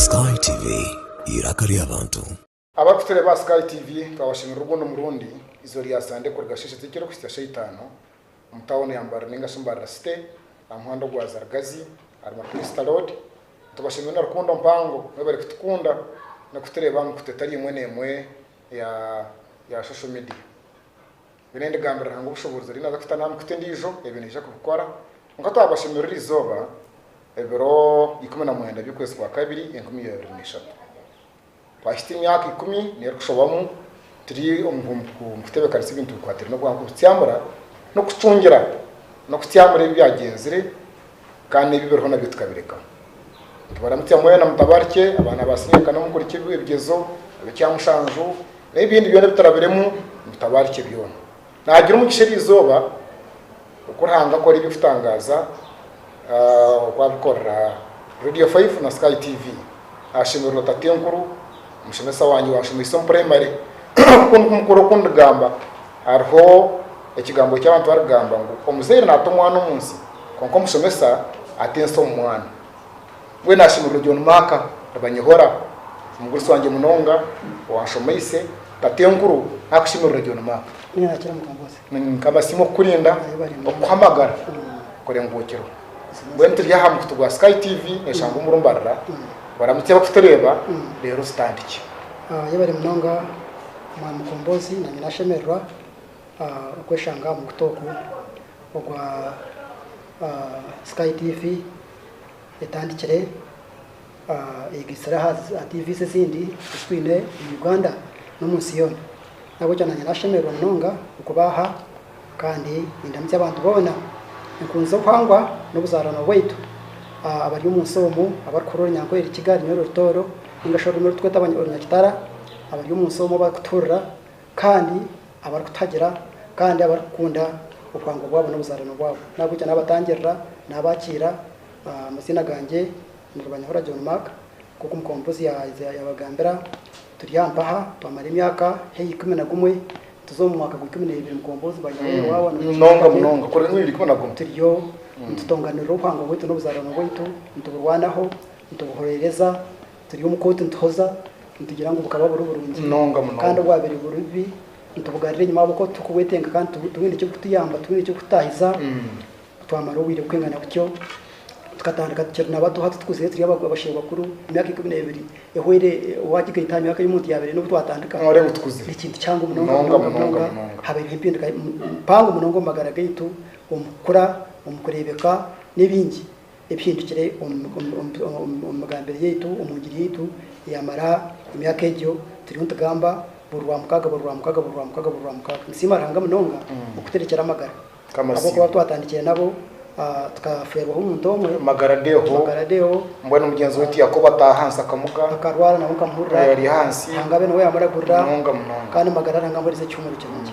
Sky TV, eiraka ry'abantu. Abarikutureeba aha Sky TV twabashemerera obundi murundi izooba rya Sande kuruga shaisha ezi ekirikuhitsya sha itaano omu tauni ya Mbarara ninga shi Mbarara City aha muhanda ogwa Zarigazi ahari Makulisita Road. Nitubashemerera na rukundo mpango mwebare kutukunda n'okutureeba aha mikutu etari emwe n'emwe eya social media. Nyowe nindigambira Ruhanga obushoboorozi ari nabwe kuta namu kuta endiijo ebyo naija kubikora, kwonka twabashemerera iri izooba ebiro ikumi na mwenda by'okwezi kwa kabiri enkumi ya abiri na ishatu. Twahitsya emyaka ikumi n'erikushobamu turi omu huumpuku nikutebeekanisa ebintu bikwataine n'obuhango, kutyamura n'okucungira n'okutyamura ebi byagyenzire, kandi ebi biriho nabyo tukabirekaho. Nitubaramukya mwena mutabarikye, abaana ba siniya kana omukurikirwe, ebigyezo, ab'ekyamushanju, n'ebindi byona ebi turabiremu, mutabarikye byona. Naagira omugisha eryo izooba oku Ruhanga akora eby'okutangaaza oku arikorera Radio 5 na Sky TV. Ashemererwa ota ati enkuru, omushomesa wangye wanshomeise omu primary ku mukuru okundigamba hariho ekigambo eki abantu barikugamba ngu omuzaire nata omwana omu nsi kwonka omushomesa ata ensi omu mwana. Mbwenu ashemererwa John Mark Rubanyihora, omugurusi wangye munonga owanshomeise ota ati enkuru nakushemererwa John Mark. Nikaba simu okukurinda, okukuhamagara, kurengukirwa. Mbwenu turi aha mukutu gwa Sky TV neshangwa omuri mbarira baramutse bakutureeba reero ozitandikye. Ah, yebare munonga Mwami Mukombozi, nanye nashemererwa ah, okweshanga aha mukutu ogu ogwa ah, Sky TV etandikire. Ayegyesire aha za TVs ezindi ezi twine omu Uganda n'omu nsi yoona. N'ahabw'ekyo naanye naashemererwa munonga okuba aha kandi nindamukya abantu boona. Nkunzire obuhangwa n'obuzaarano bwaitu abari omu nsi omu abarikuhurira orunyankore, Rukiga, Runyoro, Rutooro nainga shi orurimi oru turikweta Orunyakitara, abari omu nsi omu abarikutuhurira kandi abarikutuhagira kandi abarikukunda obuhangwa bwabo n'obuzaarano bwabo. N'ahabw'ekyo naabatangirira, naabakiira omu maziina gangye. niribanyohora John Mark nk'oku omukompozi yabagambira turi aha mpaha twamara emyaka haihi ikumi na gumwe nituza omu mwaka gwa ikumi n'ebiri mukompozi bayineho wawa nanobu turiyo nitutonganirira obuhangwa bwaitu n'obuzarano bwaitu nituburwanaho nitubuhorereza turi omu kooti nituhoza nitugira ngu bukaba buri burungi kandi obwabire buri bubi nitubugarira enyuma ahabw'okuba turikubwetenga kandi tibwine eki burikutuyamba tibwine eki burikututahiza Twamara obwire bukengana butyo, tukatandika tukiri na bato hati tukuzire turi abasheho bakuru, emyaka ikumi n'ebiri ehwere waagigaita aha myaka ei omuntu yaabaire aine obu twatandika, nooreeba ogu tukuzire. Ni kintu kihango munonga munonga munonga. Habaireho empinduka mpango munonga omu magara gaitu, omu kukura, omu kureebeka n'ebingi ebihindukire omu migambire yaitu, omu ngiri yaitu eyamara emyaka egyo turiyo nitugamba buri Rwamukaaga buri Rwamukaaga buri Rwamukaaga buri Rwamukaaga. Nsiima Ruhanga munonga okuturekyera amagara. Ahabw'okuba twatandikire nabo, tukafeerwaho omuntu omwe, Magara Deo, mbwenu mugyenzi waitu Yakobo ataaha ahansi akamuga, akarwara nabwo nkamuhurira, Ruhanga abe niwe yaamuragurira, kandi Magara Ruhanga amuheereze ekihumuro kirungi.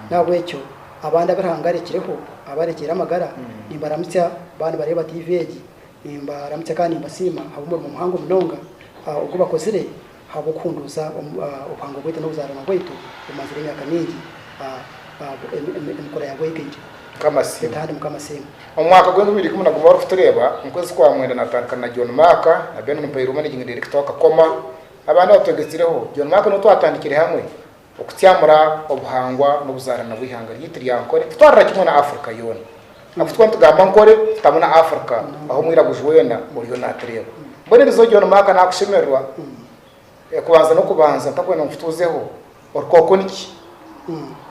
N'ahabw'ekyo, abandi abu Ruhanga arekireho, abu arekiire amagara, nimbaramutsya, baaba nibareeba tiivi egi, nimbaramutsya kandi nimbasiima ahabw'omurimo muhango munonga ogu bakozire. Ahabw'okuhunduuza obuhangwa bwaitu n'obuzaarwa bwaitu bumazire emyaka mingi, emikura yabwo eikaija. Beitu hati Mukama asiimwe. Omu mwaka gwa enkumi ibiri ikumi na gumwe bari kutureeba omu kwezi kwa mwenda natandikana na John Mark na Benon Mpairuho managing director wa Kakoma nabandi abatwegetsireho. John Mark niwe twatandikire hamwe Okutsyamura obuhangwa n'obuzaarani bw'eihanga ryaitu rya Ankole kutwarira kimwe na Africa yoona. Abu tukaba nitugamba Ankole tutamu na Africa ahu omwiraguju weena oriyo naatureeba. Mbwenu eriizooba John Mark naakushemererwa kubanza n'okubanza ntakwenda ngu nkutuuzeho orukooko niki.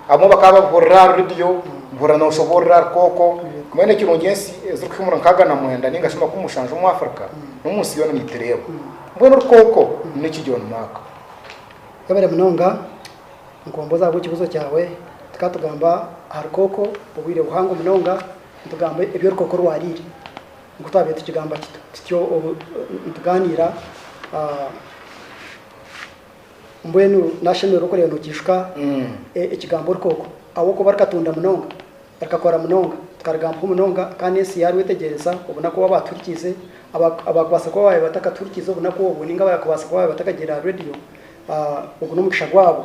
Abamwe bakaba babihurira ahari rediyo buhurira nooshoboorora rukooko. Mbwenu ekirungi ensi ezirikuhika omuri nkaaga na mwenda nainga shi makumi mushanju omu Africa n'omu nsi yoona niitureeba. Mbwenu rukooko niki John Mark? Webare munonga mukombozi ahabw'ekibuzo kyawe. Tukaba tugamba aha rukooko obwire buhango munonga, nitugamba ebi orukooko rwariire nku twabire tukigamba tutyo obu nituganira. Mbwenu nashemererwa okureeba nokijuka ekigambo orukooko ahabw'okuba rukatunda munonga. Rikakora munonga. Tikarigambaho munonga kandi ensi yaarwetegyereza obunaku obu abaatuhurikiize, abaakubaasa kuba baabaire batakatuhurikiize obunaku obwo nainga abaakubaasa kuba baabaire batakagiire aha reediyo, ogwo n'omugisha gwabo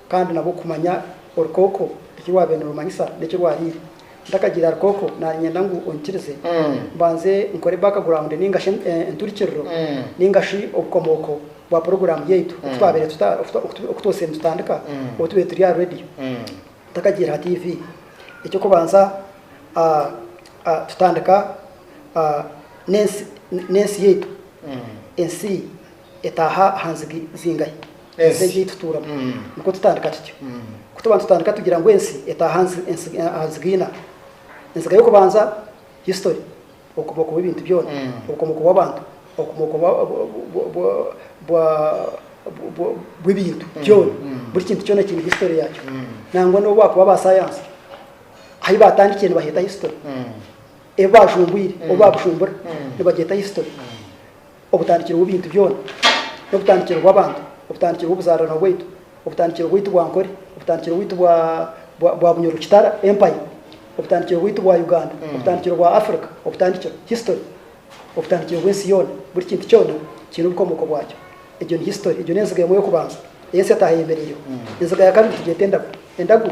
kandi nabwo kumanya orukooko eki rwaabaire nirumanyisa n'eki rwariire. Ntakagiire aha rukooko, naanyenda ngu onyikirize mbanze nkore background nainga shi enturikiriro nainga shi obukomooko bwa puroguraamu yaitu oku twabaire, oku twabaire nitutandika obu tubaire turi aha reediyo. Takagiire ha TV. Eky'okubanza tutandika n'ensi yaitu. Ensi etaaha aha nzigi zingahi? Ensi egi ei tutuuramu. Nikwo tutandika tutyo. Ku tuba nitutandika tugira ngu ensi etaaha aha nziga ina. Enziga y'okubanza. History, Obukomooko bw'ebintu byona, Obukomooko bw'abantu, Obukomooko bw'ebintu byona, buri kintu kyona kiine history yaakyo, nangwa n'obu baakuba ba saayansi, ahu baatandikire nibaheeta history, ebi baajumbwire obu baabujumbura nibagyeta history. Obutandikiro bw'ebintu byona, n'obutandikiro bw'abantu, obutandikiro bw'obuzaarana bwaitu, obutandikiro bwaitu bwa Ankole, obutandikiro bwaitu bwa Bunyoro Kitara Empire, obutandikiro bwaitu bwa Uganda, obutandikiro bwa Africa, obutandikiro, history, obutandikiro bw'ensi yoona, buri kintu kyona kiine obukomooko bwakyo. Egyo ni history. Egyo n'enziga emwe y'okubanza ei ensi yataaha eyemereireho. Enziga ya kabiri nitugyeta endagu. Endagu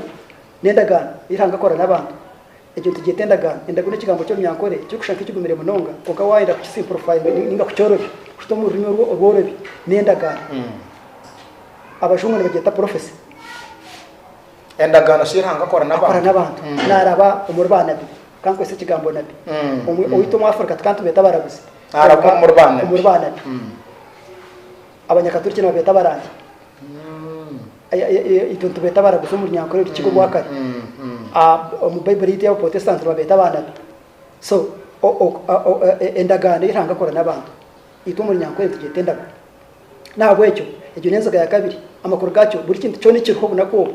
n'endagaano ei Ruhanga akora n'abantu. Egyo nitugyeta endagaano. Endagaano n'ekigambo ky'Orunyankore ekirikushusha nk'ekigumire munonga, kwonka waayenda kukisimpurifayinga nainga kukyorobya kuhika omu rurimi orwo orworobi, ni endagaano. Abajungu nibagyeta prophecy. Endagaano shi ei Ruhanga akora n'abantu? Akora n'abantu. Naaraba omuri baanabi. Ka nkozese ekigambo nabi. Omwe owaitu omu Afrika tikantubeeta abaraguzi. Naaraba omuri baanabi. Omuri baanabi. Abanyakaturiki nibabeeta abarangi. Itwe nitubeeta abaraguzi omu runyankore orukiga orwakare. Omu Baiburi yaitu ey'Abaprotestanti nibabeeta baanabi. So, endagaano ei Ruhanga akora n'abantu, itwe omu runyankore nitugyeta endagu. N'ahabw'ekyo, egyo n'enziga ya kabiri. Amakuru gaakyo, buri kintu kyona ekiriho obunaku obu,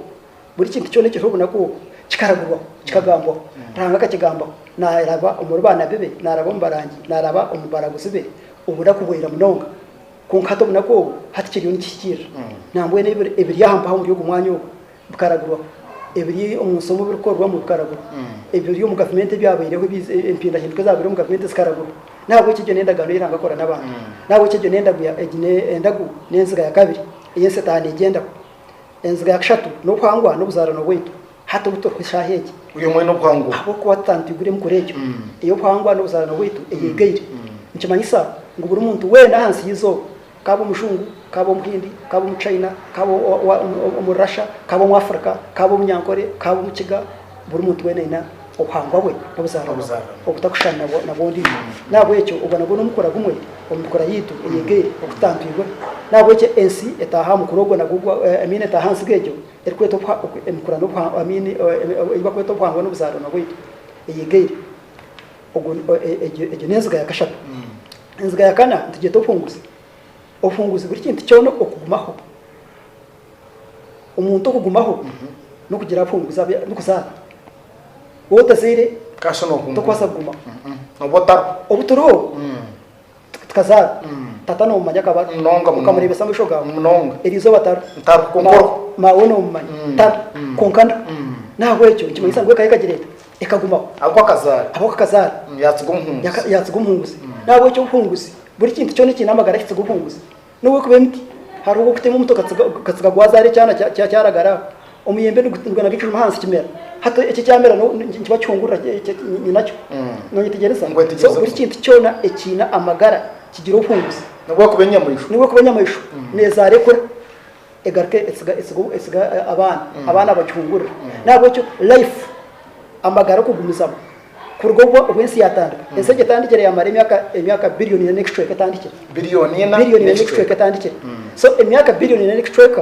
buri kintu kyona ekiriho obunaku obu, kikaragurwaho, kikagambwaho. Ruhanga akakigambaho, naaraba omuri baanabi be, naaraba omu barangi, naaraba omu baraguzi be, obunaku bwira munonga. Kwonka hati omunaku ogu hati kiriyo nikihikirira. Nambwenu ebi, ebiri aha mpaha omuri ogu mwanya ogu bikaragurwaho, ebiri omu nsi omu birikorwamu bikaragurwa, ebiri omu gavumenti ebyabaireho, ebi, empindahinduka ezabaire omu gavumenti zikaragurwa. N'ahabw'ekyo egyo n'endagaano ei Ruhanga akora n'abantu. N'ahabw'ekyo egyo n'endagu ya, egi ne, endagu n'enziga ya kabiri ei ensitaane egyendaho. Enziga ya kashatu n'obuhangwa n'obuzaarano bwaitu. Hati obu turi shaaha egi, ahabw'okuba tutantiigwire emikura egyo ey'obuhangwa n'obuzaarano bwaitu eyeegaire, nikimanyisa ngu buri muntu weena ahansi y'eizooba, ka abe Omujungu, ka abe Omuhindi, ka abe Omuchaina, ka abe Omurasha, ka abe Omwafrika, ka abe Omunyankore, ka abe Omukiga, buri muntu weena aine obuhangwa bwe n'obuzaarano bwe obutakushushana na bw'ondiijo. N'ahabw'ekyo ogwo nagwo n'omukura gumwe omu mikura yaitu eyeegaire ogu tutantwirwe. N'ahabw'ekyo ensi etaaha aha mukura ogwo nagwo, emiina etaaha aha ntsiga egyo. erikwetwa okuha emikura n'obuhangwa, I mean ei bakweta obuhangwa n'obuzaarwana bwaitu eyegaire. Ogwo egyo n'enziga ya kashatu. Enziga ya kana nitugyeta obuhunguzi. Obuhunguzi buri kintu kyona okugumaho. Omuntu okugumaho n'okugira abuhunguzi abu n'okuzaara. Waaba otazaire tokubaasa kugumaho. Obu turiho. Tukazaara. Tata nomumanya akaba ari. Munonga munonga. Okamurebesa amaisho gawe. Munonga. Eryo izooba tari. Tari. Kwonka Ma- oriho. Mawe nomumanya. Tari. Kwonka ndi. Nahabwekyo nikimanyisa ngu eka yekagireeta. Ekagumaho. Ahabwokuba akazaara. Ahabwokuba akazaara. Yatsiga omuhunguzi. Yaka- Yatsiga omuhunguzi. Nahabwekyo obuhunguzi, buri kintu kyona ekiine amagara kitsiga obuhunguzi. N'obu ekuba emiti, hariho ow'okutema omuti okatsiga gwazaara ekyana kyaragara aho. Omuyembe nigwenda ngu ekijuma ahansi kimera, hati eki ekyamera nikiba kihungurira nyinakyo. Noyetegyereza? So buri kintu kyona ekiine amagara kigira obuhunguzi. N'obu ekuba enyamaishwa, n'obu ekuba enyamaishwa neezaara ekura. Egaruka etsiga etsiga etsiga abaana abaana bakihungurira n'ahabw'ekyo life amagara okugumizamu kuruga obu obu ensi yatandika ensi egi etandikire yamara emyaka emyaka billion ina n'ekicweka etandikire Billion ina billion ina n'ekicweka n'ekicweka. etandikire so emyaka billion ina n'ekicweka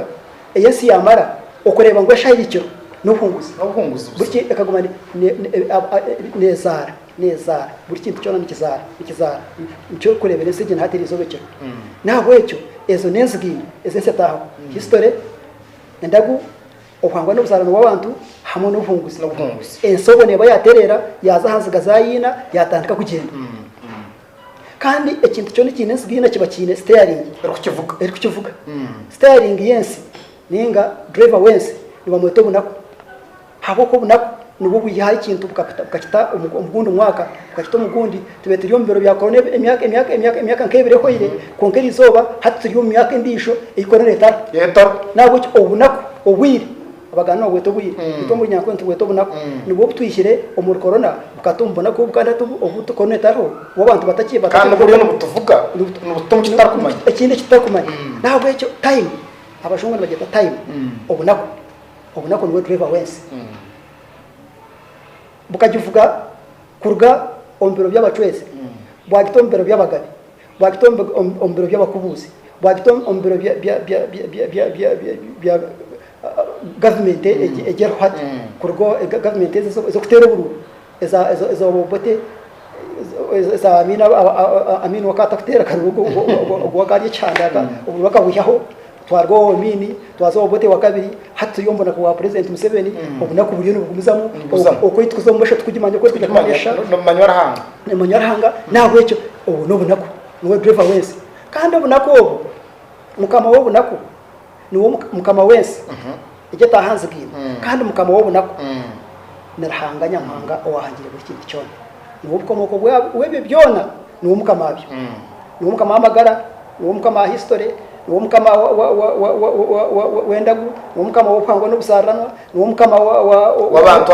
ei ensi yamara okureeba ngu eshaaha eri kiro n'obuhunguzi N'obuhunguzi busa. buriki ekaguma ne ne ne a a nezaara. neezaara, buri kintu kyona nikizaara, nikizaara, nikyo orikureebera ensi egyo naha teri eizooba ekiro. N'ahabw'ekyo ezo n'enzigiino ezi ensi etaahamu, history, endagu, obuhangwa n'obuzaarani bw'abantu hamwe n'obuhunguzi. Ensi obwo neeba yaatereera yaaza aha nziga zaayo ina yaatandika kugyenda. Kandi ekintu kyona ekiine enziga ina kiba kiine siteyaringi erikukivuga. Siteyaringi y'ensi nainga driver w'ensi nibamweta obunaku. Ahabw'oku obunaku nibwo bwaihaho ekintu bukakita omu gundi mwaka, bukakita omu gundi. Tube turi omu biro bya Korona emyaka nk'ebiri ehweire, kwonka eri izooba hati turi omu myaka endiijo ei Korona etariho. N'ahabw'ekyo obunaku, obwire, Abaganda nibabweta obwire, itwe omuri Nyankole nitubweta obunaku, nibwo bu twihire omuri Korona, bukata omu bunaku obu, kandi hati obu Korona etariho, obu abantu batari. Kandi nibwo buriyo nibutuvuga, nibututa omu kitutarikumanya. Ekindi eki tutarikumanya. N'ahabw'ekyo time, Abajungu nibagyeta time, obunaku, Obunaku niwe Driver w'ensi. Bukagivuga kuruga omu biro by'abacwezi, bwagita omu biro by'abagabe, bwagita omu biro by'abakubuuzi, bwagita omu biro bya gavumenti egi eriho hati, kuruga gavumenti ezi ez'okuteera obururu. Eza Obote eza Amin Amin wakaba atakuteera akaruuru ogwo wakaba ari ekihanda oburuuru akabwihaho twaruga owa Amin twaza Obote wa kabiri hati turi omu bunaku bwa Purezidenti Museveni mm. obunaku buriyo nibugumizamu okwitukuza omu maisho tukugimanya oku orikugira kumanyisha nimumanywa Ruhanga nimumanywa Ruhanga mm. nahabwekyo obu n'obunaku niwe driver wensi kandi obunaku obu mukama w'obunaku niwe Mukama w'ensi egi etaahanzigaine, kandi Mukama w'obunaku ni Ruhanga Nyamuhanga owaahangire buri kintu kyona. Niwe obukomooko bw'ebyo byona, niwe Mukama waabyo. Niwe Mukama w'amagara, niwe Mukama wa hisitore, niwe Mukama w'endagu, niwe Mukama w'obuhangwa n'obuzaariranwa, niwe Mukama w'abantu,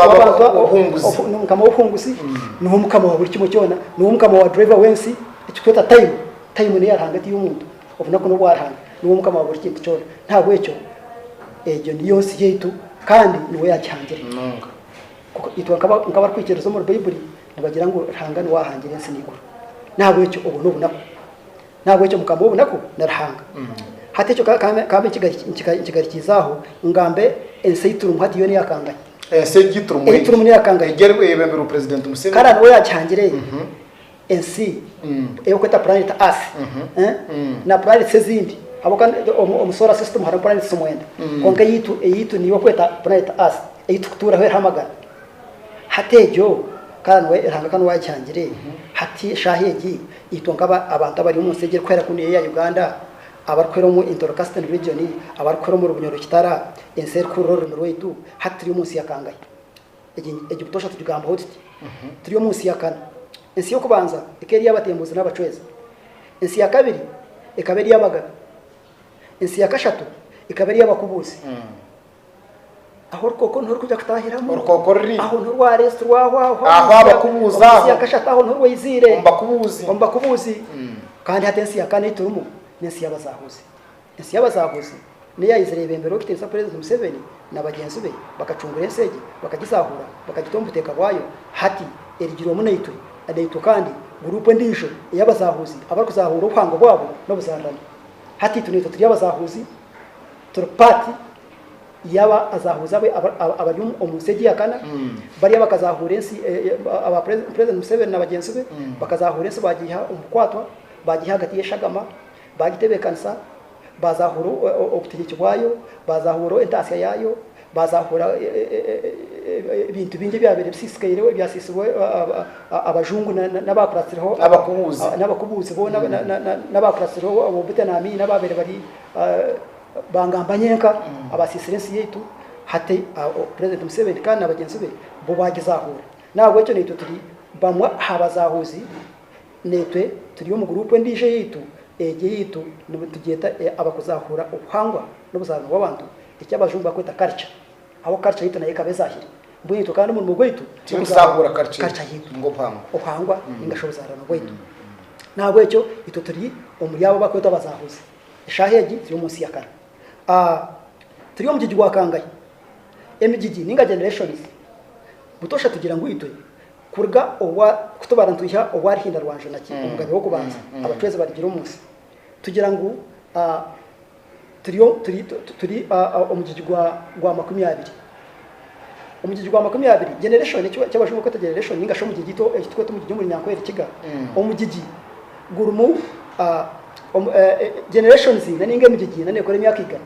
niwe Mukama w'obuhunguzi, niwe Mukama wa buri kimwe kyona, niwe Mukama wa dureeva w'ensi, ekitweeta tayimu. Tayimu n'eya Ruhanga ti y'omuntu. Obunaku n'obwa Ruhanga, niwe Mukama wa buri kintu kyona. N'ahabw'ekyo egyo niyo nsi yaitu kandi niwe yaagihangire. Kwonka itwe nk'abarikwikiriza omuri Baibuli, nibagira ngu Ruhanga niwe aahangire ensi n'eiguru. N'ahabw'ekyo obwo n'obunaku. N'ahabw'ekyo Mukama w'obunaku ni Ruhanga. Hati ekyo ka mbe nkigarikiize aho, ngambe ensi ei turimu hati yoona eya kangahi? Ensi ei turimu n'eya kangahi? Kare niwe yaagihangire? ensi erikweta planet earth na planets ezindi ahabwokuba omu solar system harimu planets mwenda kwonka eyaitu eyaitu niyo barikweta planet earth ei turikutuuraho eriho amagara hati egyo ka niwe Ruhanga ka niwe waagihangire hati eshaaha egi itwe nk'aba abantu abari omu nsi egi erikuhwera kunu eya Uganda abarikuhwera omu Intoro Casting region abarikuhwera omuri Bunyoro Kitara ensi erikuhurira orurimi rwaitu hati turi omu nsi ya kangahi? egi egi butoosha tugigambaho tuti? Turi omu nsi ya kana. Ensi y'okubanza ekaba eri ey'abatembuzi n'abacwezi. Ensi ya kabiri ekaba eri ey'abagabe. Ensi ya kashatu ekaba eri ey'abakubuuzi. Aho orukooko niho rurikuja kutaahiramu. Orukooko ruri. Aho niho rwareetsirwaho aho. Aho abakubuuzi aho. Ensi ya kashatu aho niho rwaiziire. Omu bakubuuzi. Omu bakubuuzi. Kandi hati ensi ya kana ei turimu n'ensi y'abazaahuzi. Ensi y'abasaahuzi n'eyaizire ebembera orikutiinisa Purezidenti Museveni na bagyenzi be bakacungura ensi egi, bakagisaahuura bakagita omu buteeka bwayo, hati erigirwemu naitwe naitwe kandi guruupu endiijo ey'abasaahuzi abarikuzaahuura obuhangwa bwabo n'obuzaarani. Hati itwe naitwe turi abasaahuzi, turi paati y'aba azaahuzi abo abari omu nsi egi eyakana, bari abakazaahuura ensi aba Purezidenti Museveni na bagyenzi be, bakazaahuura ensi baagiiha omu bukwatwa, baagiiha ahagati y'eshagama, baagitebeekanisa, baazaahura obutegeki bwayo, baazaahura entaatsya yaayo, baazaahura ebintu bingi ebyabaire bisiisikaireho, ebyasiisirwe abajungu n'abaakuratsireho, n'abakubuuzi boona n'abaakuratsireho, ab'obute n'amaini abaabaire bari baangamba nyenka abaasiisire ensi yaitu, hati Purezidenti Museveni kandi na bagyenzi be bo baagizaahuura. N'ahabw'ekyo naitwe turi bamwe aha bazaahuuzi. Naitwe turi omu guruupu endiijo eyaitu, egi eyaitu nitugyeta abakuzaahuura obuhangwa n'obuzaarwa bw'abantu, eki abajungu barikweta culture, ahabw'okuba culture yaitu nayo ekaba ezaahire. Mbwenu itwe kandi omurimo gwaitu n'okuzaahuura culture yaitu, obuhangwa nainga shi obuzaarano bwaitu. N'ahabw'ekyo itwe turi omuri abo abarikwetwa abazaahuzi. Eshaaha egi turi omu nsi ya kara. Turi omu mugigi gwa kangahi? Emigigi nainga generations, butoosha tugira ngu itwe Kuruga obwa, kutubara nitwiha obwa Ruhinda rwa Njonaki, omugabe w'okubanza abacwezi barigira omu nsi, tugira ngu ah, turi, turi, turi ah, ah, omugigi gwa, gwa makumi abiri. Omugigi gwa makumi abiri, generation, eki eki Abajungu barikweta generation, ninga shi omugigi eki eki tukweta omugigi omuri Nyankore Rukiga, omugigi gurimu ah, omu, eh, eh, generations ina ninga emigigi ina nekora emyaka igana.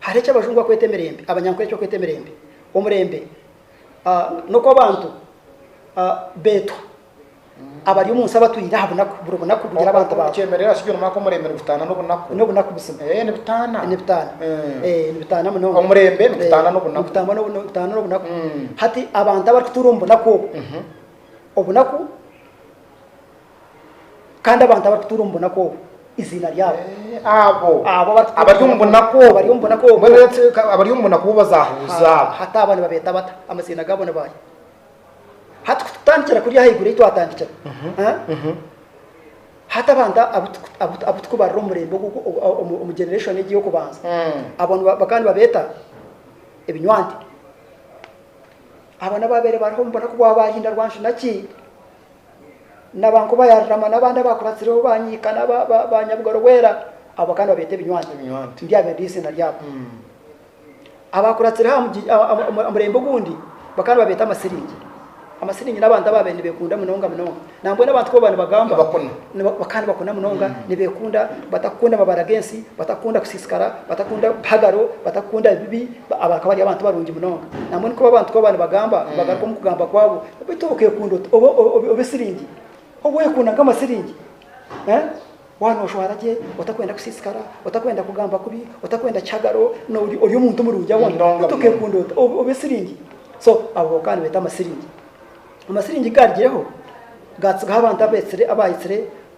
Hariho eki Abajungu bakweta emirembe, Abanyankore eki bakweta emirembe. Omurembe n'oku abantu beetwa abari omu nsi abatwire aha bunaku, buri bunaku bugira abantu baabo. Okyemerera kigyo noomanya ku omurembe nigutaana n'obunaku? N'obunaku buzima. Eeh nibutaana? Nibutaana. Eeh nibutaana munonga. Omurembe nigutaana n'obunaku. Nigutaana nigutaana n'obunaku. Hati abantu abarikutuura omu bunaku obu, obunaku. Kandi abantu abarikutuura omu bunaku obwo eiziina ryabo. Abo abari omu bunaku obwo bazaahuuza. Hati abo nibabeeta bata? Amaziina gaabo ni baahi? Hati ku tutandikira kuri ahaiguru ei twatandikira, hati abantu abu turikubarira omu murembe ogu, omu generation egi ey'okubanza, abo bakaba nibabeeta ebinywanti. Abo n'abaabaire bariho omu bunaku bwa baahinda rwanshuna ki. naba nkoba ya Rurama n'abandi abakuratsireho ba Nyiika na ba Nyabugaro Bwera, abo kandi babeeta ebinywanti, ndyabe ndi eiziina ryabo. Abakuratsireho aha murembe ogundi, bo kandi babeeta Amasiringi. Amasiringi n'abantu abaabaire nibekunda munonga munonga. Nambwenu abantu ku baba nibagamba, bakaba nibakuna munonga, nibekunda, batakukunda mabara g'ensi, batakukunda kusiisikara, batakukunda bihagaro, batakukunda bibi, abo bakaba bari abantu barungi munonga. Nambwenu ku abantu ku baba nibagamba, nibagarukamu kugamba kwabo. Baitu obu okeekunda ota obe siringi, obu weekunda nk'amasiringi, waaba nooshwara gye otakwenda kusiisikara, otakwenda kugamba kubi, otakwenda kihagaro, nooba ori omuntu murungi ahoona. Baitu okeekunda ota obe siringi. So abo bakaba nibeeta amasiringi. Amasiringi ku gaarugireho, gaatsigaho abantu abaahitsire.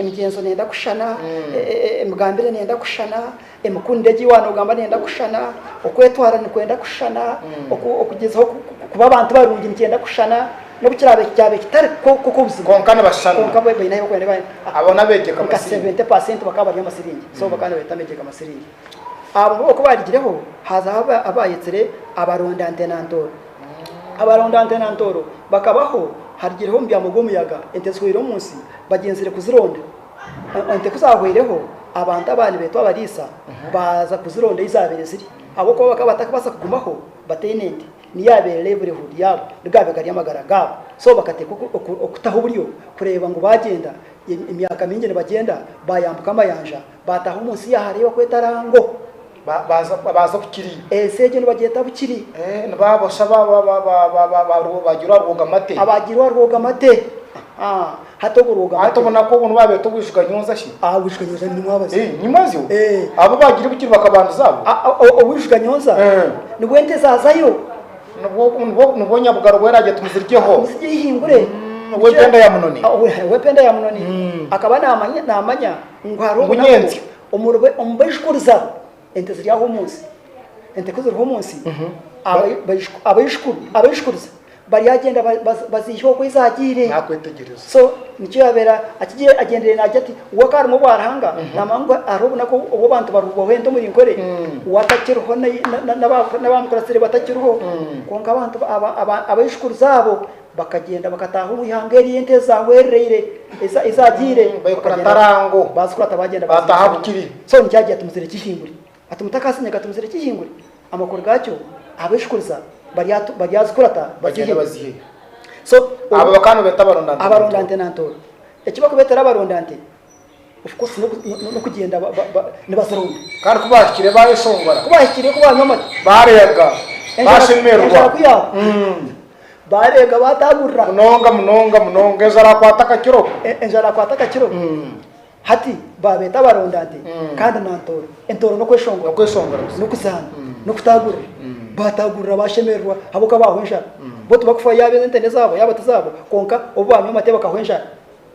emigyenzo neyenda kushushana, emigambire neyenda kushushana, emikundire egi wanogamba neyenda kushushana, okwetwara nikwenda kushushana, okugyezaho kuba abantu barungi nikyenda kushushana, nobu kirabe kyabe kitari ko ko obuzibu kwonka nibashushana kwonka baine ahi bakwenda nka 70 percent bakaba bari amasilingi so bakaba nibeta megyega masilingi. Abo boona oku baarigireho, hazaho abaayetsire abaronda nte na ntooro. Abaronda nte na ntooro bakabaho, harigireho omubyamo gw'omuyaga, ente zihweire omu nsi, bagyenzire kuzironda. Ente ku zaahweireho, abantu aba nibeetwa abariisa baaza kuzironda ei zaabaire ziri. Ahabw'okuba bakaba batakubaasa kugumaho bataine nte, niyo yaabaire livelihood yaabo, nigaabe gari amagara gaabo. So bakateeka okutaho oburyo kureeba ngu baagyenda emyaka mingi nibagyenda, baayambuka amayanja, Baataaha omu nsi yaahareeba ku etarango, baaza Bukiri. Ensi egyo nibagyeta Bukiri. Nibaabosha abaagirwe aha Rwogamate. Abaagirwe aha Rwogamate. Hati obwo Rwogamate. Hati obunaku obwo nibo baabeeta Obwijuganyooza shi? Aha Bwijuganyooza ni Nyimwabazi. Nyimwazi owo? Ee. Abo abaagirwe Bukiri bakabandiza abo? Aa, Obwijuganyooza. Ee. Nibwo ente zaazayo. Nibwo, nibwo Nyabugaro bwera agira ati, Muziryeho. Muzirye ihingure. Ow'empenda ya Munoni. Ow'empenda ya Munoni. Akaba naamanya, naamanya. Ngu hariho obunyentsi omu baijukuru zaabo, ente ziri aho omu nsi, ente ku ziriho omu nsi, abaijukuriza baryagyenda baziihe oku zaagiire. So nikyo yaabaire akigiire, agyendeire naagira ati, we akaba arimwo obwa Ruhanga, naamanya ngu hariho obunaku obu abantu barihuubwaho ente omuri nkore, we atakiriho n'abaamukuratsire batakiriho, kwonka abantu abaijukuriza abo, Bakagyenda, bakataaha omu ihanga eri ente zaahwereraire, eza, ezaagiire. Baikura Tarango, Baazikura Tabagyenda, baataaha ahu kiri. So nikyo agira ati, Muzire kihingure. Ati, Mutakaasinya ga tumuzire kihingure? Amakuru gaakyo, ab'eshikuriza barya, baryazikura ta, Bagyende bakihingure. baziheyo. So, Abo bakaba nibeeta abaronda nte na ntooro. Abaronda nte na ntooro. Eki barikubeetera abaronda nte. Kandi ku baahikire baayeshongora, baareega, baashemererwa munonga munonga munonga, enjara akwata akakiro. Hati baabeeta abarondaadi, kandi na ntooro. Entooro n'okweshongora, n'okutaagurira. Baataagurira, baashemererwa ahabw'okuba baahwa enjara. Bo tibarikufa yaaba ente n'ezaabo, yaaba tizaabo, kwonka obu baanywa amate bakahwa enjara.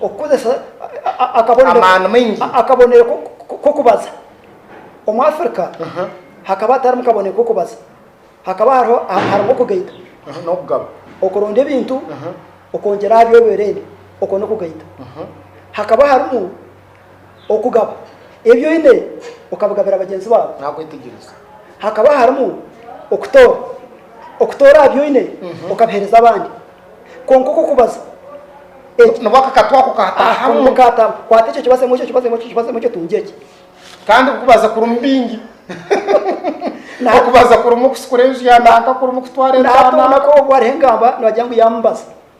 okukozesa akabonero k'okubaza. Omu Afirika hakaba hatarimu kabonero k'okubaza, hakaba harimu okugaita n'okugaba. Okuronda ebintu, okwongyera aha by'obwerende, okwo n'okugaita. Hakaba harimu. okugaba ebi oine okabigabira bagyenzi baawe. Aha kwetegyereza hakaba harimu okutoora, okutoora aha bi oine okabiheereza abandi. Kwonka oku okubaza eki. Nabwo akakatwa ako kaatahamu. Kaatahamu. Kwata ekyo kibazemu, ekyo kibazemu, ekyo kibazemu, ekyo tungye eki. Kandi kubaza kurimu bingi. Okubaza kurimu kusikura enju ya naaka, kurimu kutwara enju ya naaka. Naatondako obu ariho engamba noogira ngu yaamubaza.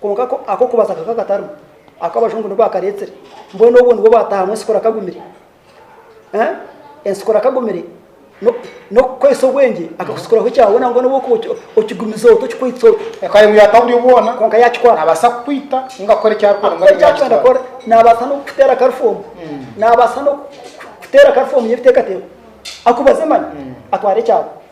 Kwonka ako ak'okubaza kakaba katarimu. Ako Abajungu nibo baakareetsire. Mbwenu obwo nibwo bwataahamu ensikura kagumire. Ensikura kagumire n'okukukoresa obwengye, akakusikuraho ekyabona ngu n'obu okuba okigumize ota, okikwitse ota. Ekaba emuyata aha buryo bwona. Kwonka yaakikora. Naabaasa kukwita ninga kukora eki arikwenda mbwenu eki arikwenda kukora. Naabaasa n'okukuteera karifoomu. Naabaasa n'okukuteera karifoomu y'ebiteekateeko. Akubaze mani atware ekyabona.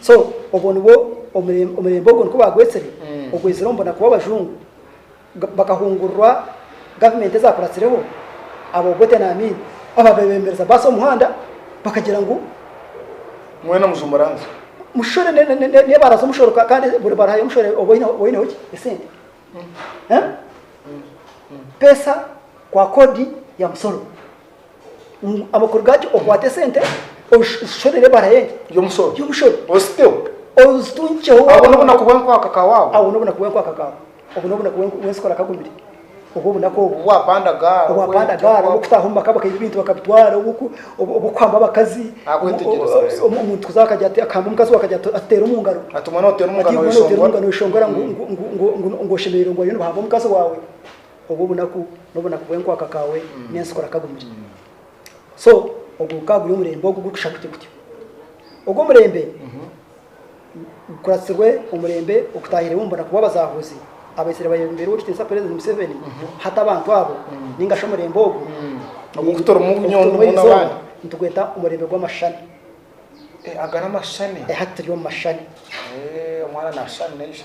So obwo nibwo omurembe ogwo nikwo baagwetsire ogwezire omu bunaku bw'abajungu bakahungururwa gavumenti ezaakuratsireho aba Obote na Amin abaabaire beemereza baasi omu muhanda bakagira ngu Mwena muze omu ranzi. mushore ne- ne- ne- ne- n'ebaara z'omushoro ka- kandi buri baara hariyo omushoro oba oine- oba oineho ki esente Eh? pesa kwa kodi ya musoro amakuru gaakyo okwate esente oshorere ebara y'omushoro ozitungikyeho obwo n'obunaku bw'enkwaka ka waawa obwo n'obunaku bw'enkwaka ka obwo n'obunaku bw'ensikora kagumire obwo obunaku obwo obwapanda gaara obwapanda gaara obw'okutaaha omu maka bakaiba ebintu bakabitwara obw'okuhamba abakazi omuntu kuza akagya akahamba omukazi we akagya atuteera omu ngaro ati omwana oteera omu ngaro oyeshongora ngu oshemereire ngu bariyo nibahamba omukazi waawe obwo obunaku n'obunaku bw'enkwaka kaawe n'ensi kurakagumire. So, ogwo gukaba guri omurembe ogu gurikushusha kutyo kutyo. Ogwo omurembe gukuratsirwe omurembe okutaahiremu omu bunaku bw'abazaahuzi abaitsire bayebembera Ow'ekitiinisa Purezidenti Museveni, hati abantu abo, nainga shi omurembe ogwo, Ogu kutarimu nyondo ogutarimu mbwenu erizooba, abandi. nitugweta omurembe gw'amashani. Eh, aga n'amashani. Eh, hati turi omu mashani. Eh, omwana naashusha na ishe.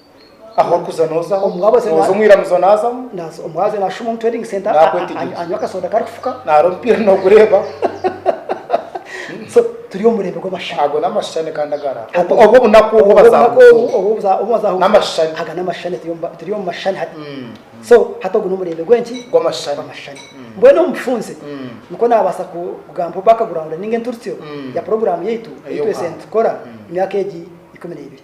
Aho orikuza nozaho. Omuwabuzi Noza omu iramizo nazamu. Naza omuwabuzi nashuma omu trading center anywa akasoda karikufuka. Naro omupiira nogureeba. So turi omu murembe gw'amashushani. Ago n'amashushani kandi agari aho. Obwo obunaku obu bazahuza. N'amashushani. Aga n'amashushani turi omu mashushani hati. So hati ogu n'omurembe gw'enki? Gw'amashushani. Gw'amashushani. Mbwenu omu bufunze nikwo nabaasa kugamba omu background ninga enturutsyo ya puroguraamu yaitu ei twesire nitukora emyaka egi ikumi n'ebiri.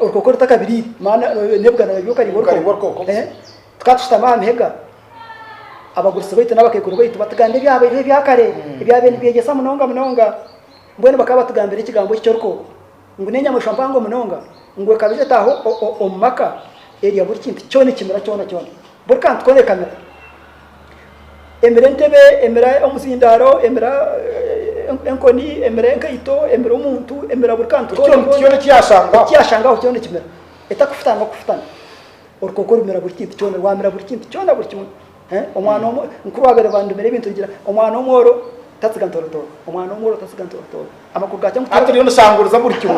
orukoko rutakabiriire maana n'ebigana biba byokaribwa orukoko eh? tukaba tushutami aha mihega abagurusi baitu n'abakaikuru baitu batugambira ebyabairiho ebyakare hmm. ebyabaire nibyegyesa munonga munonga mbwenu bakaba batugambira ekigambo eki ky'orukoko ngu n'enyamaishwa mpango munonga ngu ekaba etaho omu maka erya buri kintu kyona ekimera kyona kyona buri kantu kona ekamira emira entebe, emira omuzindaaro, emira enkoni, emira enkaito, emira omuntu, emira buri kantu ekiyashangaho kyona ekimira etakufutana n'okufutana. Orukooko rumira buri kintu kyona, rwamira buri kintu kyona buri kimwe. Omwana omwe, nkuru waabaire bandumire ebintu nigira ngu omwana omworo tatsiga ntoorotooro, omwana omworo tatsiga ntoorotooro. Amakuru gaakya ngu Hati rero noshanguruza buri kimwe.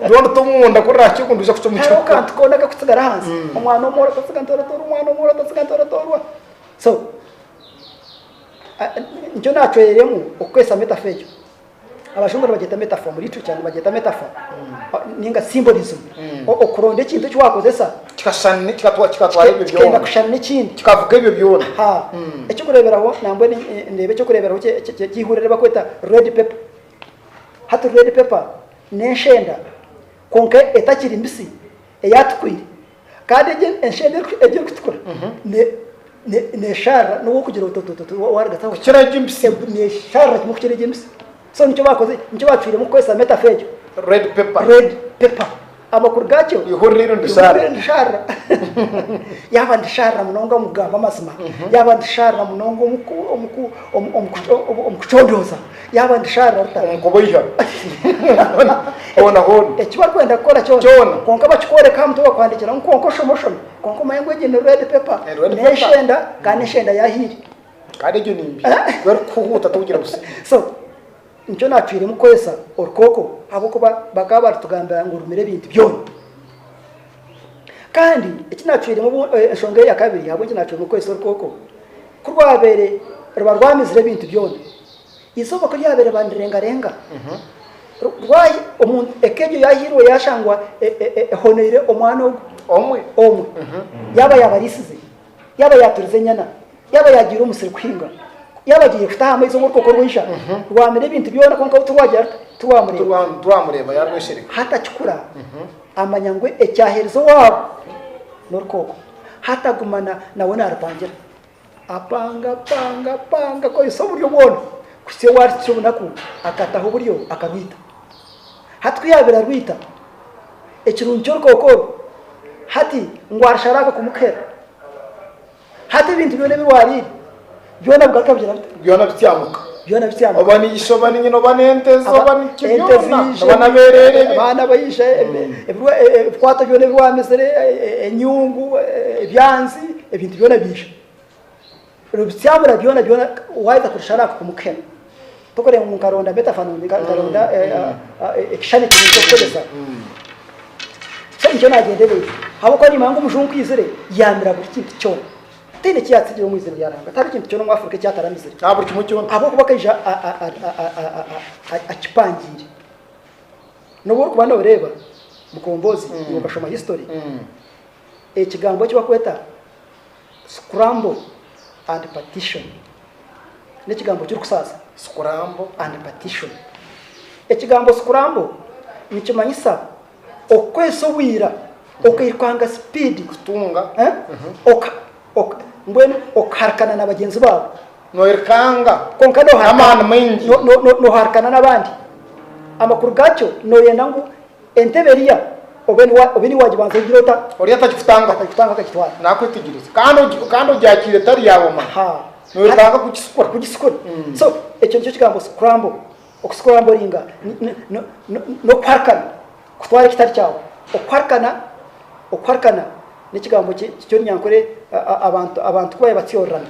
Rero oruta omunda kurira aha kihuundu oija kucwa omu hariho kihuku. akantu koona akakutsigara ahansi. Omwana w'omwooro atatsiga ntoratorwa, omwana w'omwooro atatsiga ntoratorwa. So, nikyo naacwereremu okukoresa metaphor egyo. Abajungu nibagyeta metaphor, omu literature nibagyeta metaphor, ninga symbolism. Okuronda ekintu eki waakozesa. Kikenda kushushana n'ekindi. Kikavuga ebyo byona. Aha. Eky'okureeberaho, nambwenu ndeeba eky'okureeberaho ky'eihuriro eri barikweta Red Pepper. Hati Red Pepper n'enshenda kwonka etakiri mbisi, eyaatukwiire. Kandi egi enshenda egi erikutukura neesharira n'obu orikugira oti waarigataho. Kukira egi embisi. Neesharira kimwe kukira egi embisi. So nikyo baakoze, nikyo baacwiremu kukoresa metafa egyo. Red paper. Red paper. Amakuru gaakyo. Ihurira eri ndishaarira. Ihurira ndishaarira. Yaaba ndishaarira munonga omu kugamba amazima. Yaaba ndishaarira munonga omu ku, omu ku, omu, omu ku, omu, omu kucondooza. Yaaba ndishaarira ruta? Omu kuboiha. Hoona hoona. Eki barikwenda kukora kyona. Kyona. Kwonka bakikworeka aha mutwe bakwandiikira ngu kwonka oshome oshome. Kwonka omanye ngu egyo ni red paper. Ni red paper. N'enshenda, kandi n'enshenda yaahaire. Kandi egyo ni mbi ku erikukuhuuta togira busiru. So, nikyo naatwiremu kwesa orukooko ahabw'okuba bakaba baritugambira ngu rumire ebintu byona. Kandi eki naatwiremu obu, eh, enshonga eya kabiri ahabw'enki naatwiremu kwesa orukooko, ku rwabaire ruba rwamizire ebintu byona, eizooba ku ryabaire riba nirirengarenga, ru- rwahi- omuntu eka egyo yaahiirwe yaashangwa e- e- e- ehonoire omwana ogu Omwe. omwe, yaaba yaabariisize. yaaba yaaturiza enyana, yaaba yaagiire omusiri kuhinga, yaaba agiire kutaaha amaizi omu rukooko rw'eija, rwamira ebintu byona kwonka we tirwagira ruta? Tirwamureeba. Tirwamureeba, yaarweshereka. Hatakikura, amanya ngu ekyaherize owaabo n'orukooko. Hataguma nawe naarupangira. Apanga, apanga, apanga, akozesa oburyo bwona kuhitsya obu arikukira obunaku akataho oburyo akarwita. Hati ku yaabaire arwaita ekirungi ky'orukooko oru, hati ngu arisharaaka kumukuhera, hati ebintu byona ebi waariire byona bigaruka bigira bita? Byona bityamuka. Byona bityamuka. Oba ni ishe, oba ni nyina, oba n'ente ze, oba ni ki Ente byona, ziije, oba n'abereere be. abaana baije, ebe- Mm. ebirwa- e- e- ebikwato byona ebi waamizire, e- e- enyungu, e- e- ebyanzi, ebintu byona biija. Rubikyabura byona byona waayeta kurushara aha kukumu k'hema, tokureeba ngu nkaronda metaphanooni, nkaronda ekishushani kinu ky'okukoresa. Tikyo nikyo naagyendereire. Ahabw'okuba niimanya ngu omujungu ku aizire, yaamira buri kintu kyona. Tihaine eki yaatsigire omu izina rya Ruhanga. Tihariho kintu kyona omu Afrika eki ataramizire. Aha buri kimwe kyona. Ahabw'okuba akaija akipangiire. N'obu orikuba nooreeba Mukomboozi, ngu okashoma history, ekigambo eki barikweta Scramble and partition. N'ekigambo kirikusaasa scramble and partition. Ekigambo scramble nikimanyisa okukoresa obwira okairukanga sipiidi kutunga mbwenu okuharikana na bagyenzi baawe noirukanga kwonka n'amaani maingi noharikana n'abandi amakuru gaakyo nooyenda ngu Entebe eriya oba eri wagibanza ogire ota? Ori atagikutanga. Atagikutanga akagitwara. Nakwetegyereza kandi ogyakiire etari yaawe omanya. Ha. Noyetaaga kugisikura. Kugisikura. So ekyo nikyo kigambo scramble. Okuscrambulinga n'okuharikana kutwara ekitari kyawe. Okuharikana okuharikana n'ekigambo ky'orunyankore abantu kubabaire batyororana.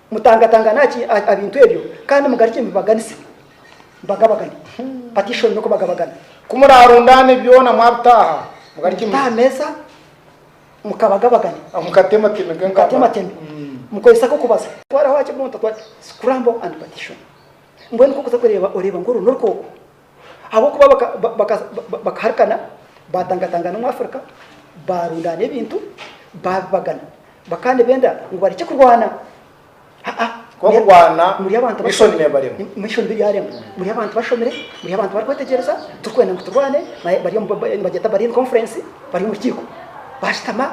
Mutangatangane aha bintu ebyo, kandi mugarukye mubibaganise, mubagabagane. Bati ishwi oine kubagabagana. Ku muraarundaane byona mwabitaaha, mugarukye mubite aha meeza, mukabagabagane. Mukatemateme ge nkaba. Mukatemateme, mukozese ak'okubaza. Twaraho aha kibunta twati, Scramble and Partition. Mbwenu ku orikuza kureeba, oreeba ngu oru n'orukooko. Ahabw'okuba bakaharikana, baatangatangana omu Afirika, baarundaana ebintu, baabibagana. Bakaba nibenda ngu barekye kurwana. Ahabw'okurwana, mishoni neebarema. Mishoni biryarema. Muri abantu bashomire, muri abantu barikwetegyereza, turikwenda ngu turwane. Bari omu nibagyeta bari in conference, bari omu rukiiko. Baashutama,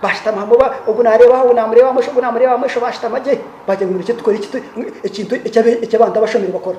baashutama hamwe, ogu naareeba aha, ogu naamureeba aha bumosho, ogu naamureeba aha bumosho, baashutama gye, baagira ngu nibarekye tukore ekintu eki abantu abashomire bakora.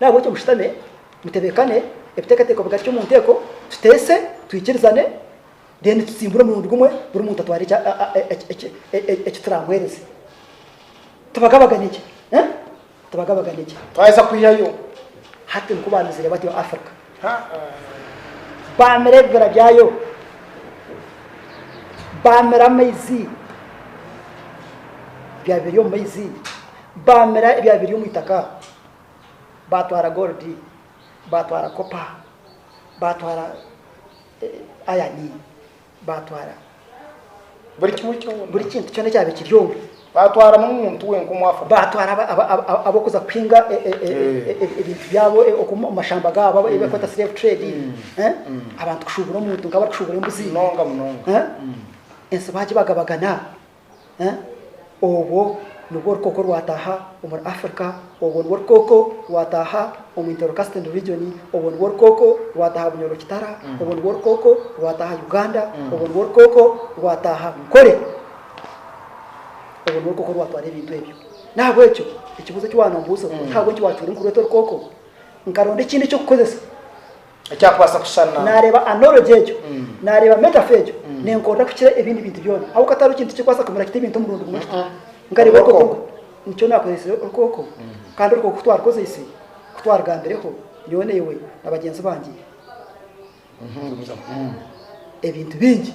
Nahabwekyo mushutame, mutebekane ebiteekateeko bigarukye omu nteeko, tuteese, twikirizane, then tutsimbure omurundi gumwe buri muntu atware eki turamuheereze. Tubagabagane gye. Tubagabagane gye. Twaheza kwihayo. Hati nikwo baamizire batyo Africa. Baamira ebibira byayo. Baamira amaizi. Byaba biri omu maizi. Baamira ebyabyo biri omu itaka, baatwara goolidi, baatwara kopa, baatwara ayani, baatwara Buri kimwe kyona. buri kintu kyona ekyabire kiri omwo. Baatwara n'omuntu we nk'omu Afrika. Baatwara aba- aba- aba- aba- ab'okuza kuhinga e- e- e- Eh. e- e- ebintu byabo e- omu mashamba gaabo, aba- ebikweta slave trade, eh, abantu kushuubura omuntu nk'abarikushuubura embuzi. Munonga munonga. Eh? Ensi baagibagabagana. Orwo nirwo rukooko rwataaha omuri Africa, orwo nirwo rukooko rwataaha omu Intercasting Region, orwo nirwo rukooko rwataaha Bunyoro-Kitara, orwo nirwo rukooko rwataaha Uganda, orwo nirwo rukooko rwataaha Nkore, orwo nirwo rukooko rwatwara ebintu ebyo. N'ahabw'ekyo ekibuuzo eki waaba noombuuza oti, Ahabw'enki waacuura orikureeta orukooko? Nkaronda ekindi eky'okukoresa Ekyakubaasa kushushana. Naareeba anology egyo, naareeba metaphor egyo nenkorera kukira ebindi bintu byona, ahabw'okuba tihariho kintu tikirikubaasa kumira kita ebintu omurundi gumwe kita. Nkareeba orukooko oru, nikyo naakozeesire orukooko, kandi orukooko ku twarukozeise, ku twarugambireho, nyowe naiwe na bagyenzi bangye, ebintu bingi.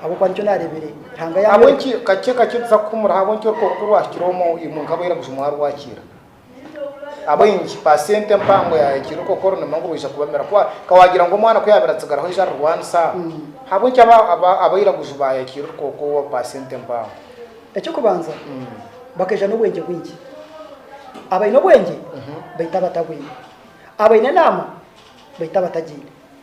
Ahabw'okuba nikyo naareebire, Ruhanga yaanyoleka. Ahabw'enki kakye kakye tuza kuhumura ahabw'enki orikuba kukuru ahikire omu imwe nk'abo Iraguju mwarwakiira? Ahabw'enki paasenti empango yaahikiire okookoro nimwo ngu baija kubamira? Ku ka waagira ngu omwana ku yaabaire atsigaraho aije arirwanisa, ahabw'enki aba aba aba Iraguju baahikiire orukooka owa paasenti empango? Eky'okubanza, bakaija n'obwengye bwingi. Abaine obwengye baita abatabwine. Abaine enaama baita abatagiine.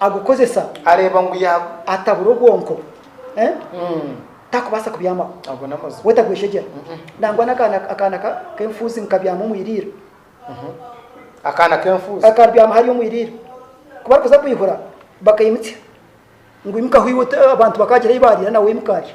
agukozesa areeba ngu ya. Atabura obwonko takubaasa kubyamaho. Ago n'amazima. Wetagweshegyera. Nangwa n'akaana akaana k'enfuuzi nikabyama omu iriiro. Akaana k'enfuuzi. Akabyama hariya omu iriiro. Ku barikuza kwihura bakaimutsya ngu imukaho iwe abantu bakaagira ei baariira nawe imuka arya.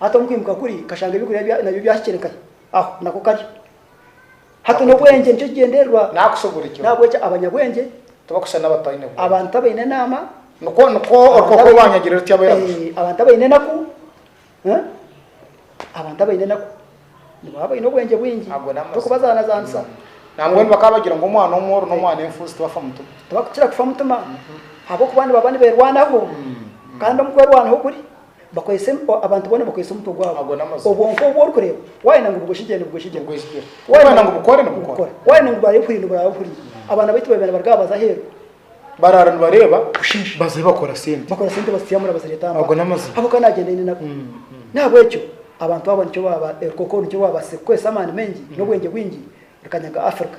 Hati omu kwimuka kuri, kashanga eby'okurya nabyo byahikire nkahi? Aho nako kari. Hati n'obwengye nikyo kigyendererwa. N'ahabw'ekyo abanyabwengye, abantu abaine enaama, abantu abaine enaku, abantu abaine enaku nibo baba baine obwengye bwingi, torikubazaanazaanisa. Tibakukira kufa mutima ahabw'okuba nibaba nibeerwanaho, kandi omu kwerwanaho kuri. Bakwese abantu boona bakwese omutwe gwabo obwonko obu orikureeba wayenda ngu bugweshigyire nibugweshigyira wayenda ngu bukore nibukora wayenda ngu burabe buhuriire niburaaba buhuriire abaana baitu babeera nibaruga aha baza aheeru baraara nibareeba busheesha bazayo bakora sente bakora sente bazisiyaamura bazireeta aha ago n'amazima habw'okuba nagyenda aine nabo n'ahabw'ekyo abantu abo nikyo baaba ebikooko nikyo baabaasize kukoresa amaani maingi n'obwengye bwingi bikanyaga Africa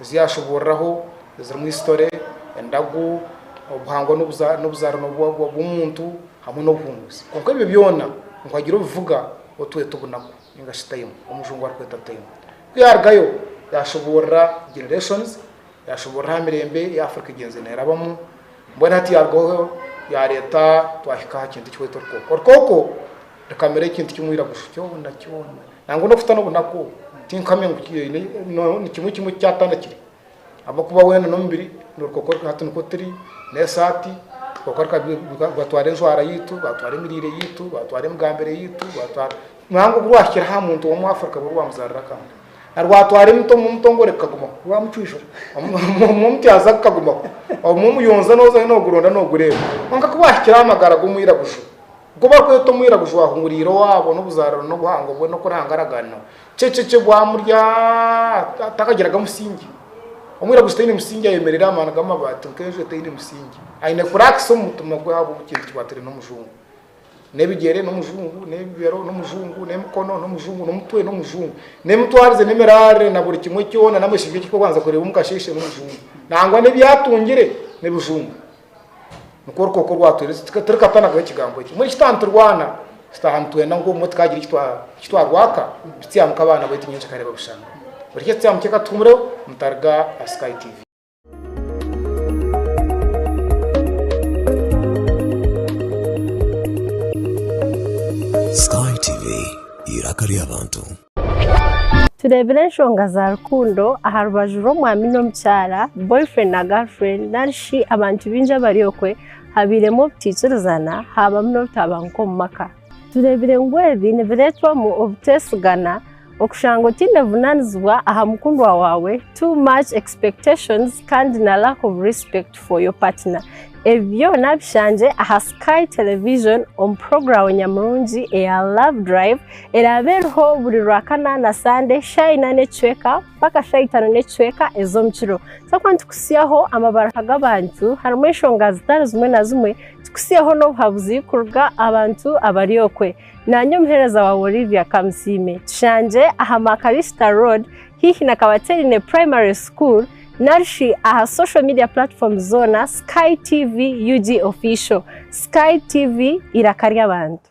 Ezi yaashuburiraho zirimu Isitore, Endagu, Obuhangwa n'Obuzaarwa bw'Omuntu hamwe n'Obuhunguzi. Kwonka ebyo byona ngu hagire obivuga otwete obunaku ninga shi time, Omujungu arikweta time. Ku yaarugayo yaashuburira Generations, yaashuburira aha mirembe ei Afrika egyenze neerabamu, mbwenu hati yaarugaho yaareeta twahika aha kintu eki hweta orukooko. Orukooko rukamira ekintu kimwe eiraguju kyona kyona. Nangwa n'okuhitsya n'obu naku, tinkuhamya ngu ni kimwe kimwe eki kyatandikire, ahabw'okuba weena n'omubiri n'orukokoryo, hati nikwo turi, n'esaati, orukokoryo rukabiika, rwatwara enjwara yaitu, rwatwara emiriire yaitu, rwatwara emigambire yaitu, rwatwara, nangwa obu rwahikire aha muntu ow'omu Afrika obu rwamuzaarira akandi, na rwatwara emiti omu mutongore kukagumaho, rwamucwijura omu omutyaza kukagumaho, omu omuyonjo noozayo nooguronda noogureeba, kwonka ku rwahikire aha magara g'omwiraguju, Nk'oku barikweta omwiraguju waahunguriire owaabo n'obuzaarwa n'obuhango bwe n'oku orahangaraganwa, kyecekye bwamurya atakagiraga musingi. Omwiraguju taine musingi ayemerera aha maani g'amabaati nk'enju etaine musingi. Aine kuraakisa omu mutima gwe ahabw'obu kintu kikwatiraine n'omujungu. N'ebigyere n'omujungu, n'ebibero n'omujungu, n'emikono n'omujungu, n'omutwe n'omujungu, n'emitwarize n'emiraarire na buri kimwe kyona n'amashibi eki orikubanza kureeba omu kasheeshe n'omujungu. Nangwa n'ebi atungire n'ebijungu. Nikwo orukooko orwatwoirwe turikatanagaho ekigambo ekyo. Mbwenu shi twaaba niturwana? Shi twaaba nitwenda ngu obumwe tukaagira eki twarwaka? Tutsyamu nka abaana baitu nyenkya kareeba bushanga. Buri hitsya tutsyamu teeka tuhumireho mutaruga aha Sky TV. Sky TV, eiraka ry'abantu. Tureebire enshonga za rukundo aha rubaju rw'omwami n'omukyara, boyfriend na girlfriend, narishi abantu baingi abari okwe, habairemu obutaikirizana, haabamu n'obutabanguko omu maka. Tureebire ngu ebi nibireetwamu obuteesigana, okushanga otaine buvunaanizibwa aha mukundwa waawe, too much expectations, kandi na lack of respect for your partner. Ebi byona bishangye aha Sky Television omu puroguramu nyamurungi eya Love Drive. Eraabe eriho buri Rwakana na Sande shaaha ina n'ekicweka mpaka shaaha itano n'ekicweka ez'omu kiro. Twaba nitukutsyaho amabaruha g'abantu harimu enshonga zitari zimwe na zimwe, tukutsyeho n'obuhabuzi kuruga aha bantu abari okwe. Naanye omuheereza waawe Olivia Kamusiime. Tushangye aha Makarista Road haihi na Kabateerine Primary School nari shi aha social media platforms zoona Sky TV UG Official. Sky TV, Eiraka ry'abantu.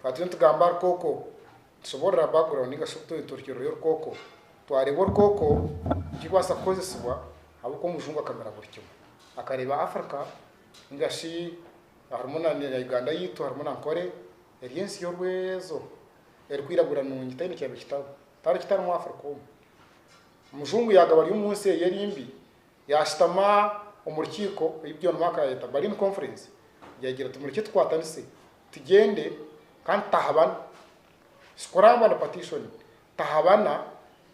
Twaturiyo nitugamba aha rukooko, nitusoborora background ninga shi obutoitorikiriro y'orukooko, twareeba orukooko nkibaasa kukozesibwa ahabw'oku omujungu akamira buri kimwe. Akareeba Africa ninga shi harimu na Uganda yaitu harimu na Nkore eri ensi yorwe ezo erikwiragura nungi taine eki abikitaho. Tariho ekitarimu Africa omu. Omujungu yagaba ari omu nsi eye eri mbi, yashutama omu rukiiko ei John Mark arayeta Berlin Conference, yaagira ati mureke tukwatanise tugyende kandi tutahabana. Sikuraaba ni Patisoni, tahabana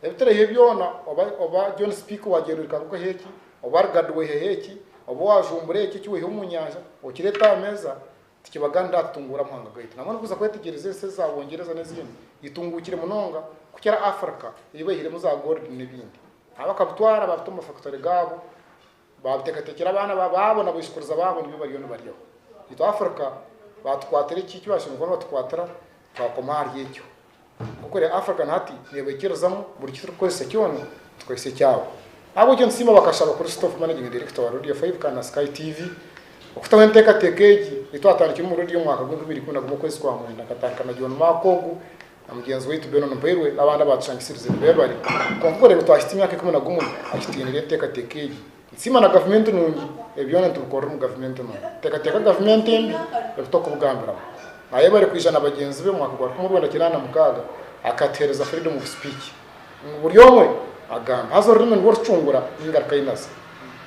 ebi turiho byona oba oba John Speke wagyenda ohika ngu ohe eki, oba Lugard weheho eki, oba wajumbura eki eki weheho omu nyanja okireete aha meeza, tikibaganira aha kutunguura Muhanga gaitu. Nabwenu kuza kwetegyereza ensi ezi za Bungyereza n'ezindi, eitunguukire munonga kukira Africa ei baihiremu za gold n'ebindi. Abakabitwara baabita omu mafakitore gaabo Baabuteekateekire abaana baabo na baishukuruza baabo nibyo bariyo nibaryaho. Itwe Africa baatukwatira eki eki baashemeriire kuba nibatukwatira, twakoma ahari ekyo. Nk'oku eri African hati neebaikirizamu buri ki turikukozesa kyona tukorese ekyabo. Ahabw'ekyo nitusiima bakashaba kuri Stoff Managing Director wa Radio Five kandi na Sky TV okutaho enteekateeka egi ei twatandikire omuri Radio omwaka gw'enkumi ibiri ikumi na gumwe okwezi kwa mwenda nkatandika na John Mark ogu Na mugyenzi waitu Benon Mpairwe n'abandi abaatushangisirize nibeebare. Kwonka kureeba twahitsya emyaka ikumi na gumwe akitiinire enteekateeka egi. Nsiima na gavumenti nungi, ebi byona nitubikorera omu gavumenti enu. Nteekateeka gavumenti embi ebi tokubugambiramu. Naayebare kwija na bagyenzi be omwaka gwa rukumi orwenda kinaana na mukaaga akatuheereza freedom of speech. ngu buri omwe agambe, haza orurimi nirwo rucungura engaruka ei naza.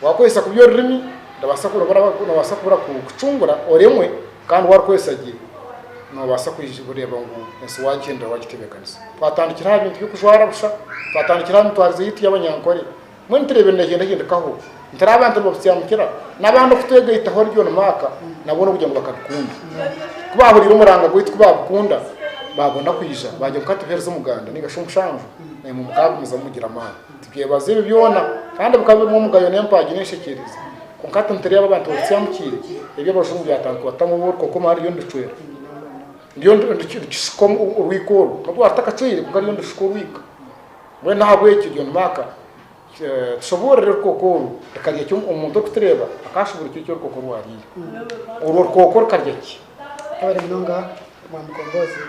Waakozesa kubi orurimi, nibaasa noobaasa kukucungura oremwe, kandi warukozesa gye, noobaasa kureeba ngu ensi waagyendera waagitebeekanisa. Twatandikira aha bintu by'okujwara busha, twatandikira aha mitwarize yaitu y'abanyankore, Mbwenu tureebe ngu nihagyenda hahindikaho nti ari abantu nibabusyamukira n'abandi okutwegaitaho ori John Mark na boona kugira ngu bakabikunda. Ku baahuriire omuranga gwaitu ku baabikunda, baabona kwija baagira ngu ka tuheereze omuganda nainga shi omushanju, naimwe mukaagumizamu mugira amaani. Tubyebaza ebyo byona kandi bikaba birimu omugayo n'empaagi n'enshekyeerezi. Kwonka hati nitureeba abantu babusyamukiire, eby'abajungu byatankwaatamu obu orikwo koma hariyo niricwera. Ryo nirikishuka orwiko orwo. N'obu rwaba rutakacweire, kwonka ryo nirushuka orwiko. Mbwenu ahabw'ekyo John Mark tushoboorore orukooko oru, Ekarya ki omuntu orikutureeba akaashuburwa eki orukoko rwariire? Orwo rukooko rukarya ki? Twabare munonga mwa Mukomboozi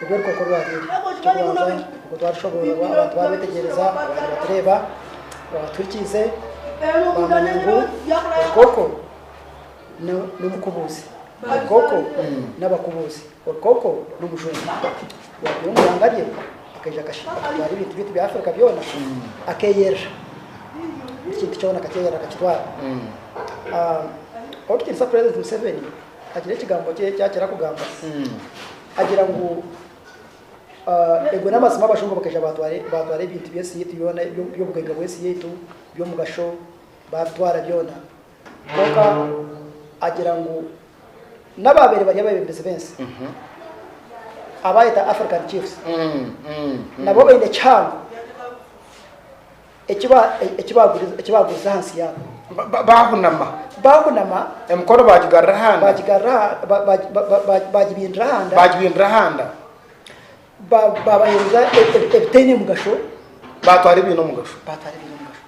ebi orukoko rwariire. Eky'okubanza nikwo twarushoboororwa abantu baarwetegyereza baaba nibatureeba, baabatuhikiise baamanya ngu orukooko n'omukubuuzi, orukooko n'abakubuuzi. Orukoko n'omushozi. Yaagira omu ihanga rye, akaija akashitama, akatwara ebintu byaitu bya Afirika byona, akeeyerera. Buri kintu kyona akakyeyerera akakitwara. Oku tukiiriza Purezidenti Museveni, agira ekigambo kye eki akira kugamba. Agira ngu, Ebwe n'amazima abajungu bakaija baatwara ebintu by'ensi yaitu byona, by'obugaiga bw'ensi yaitu, by'omugasho, baabitwara byona. Kwonka agira ngu n'abaabaire bari abeebembezi b'ensi abaayeta African Chiefs nabo baine ekihango eki baagurize ahansi yaabo. Baahunama. Baahunama. Emikono baagigarura ahanda. Baagibindira ahanda. Baagibindira ahanda. Baabaheereza ebitaine mugasho. Baatwara ebiine omugasho. Baatwara ebiine omugasho.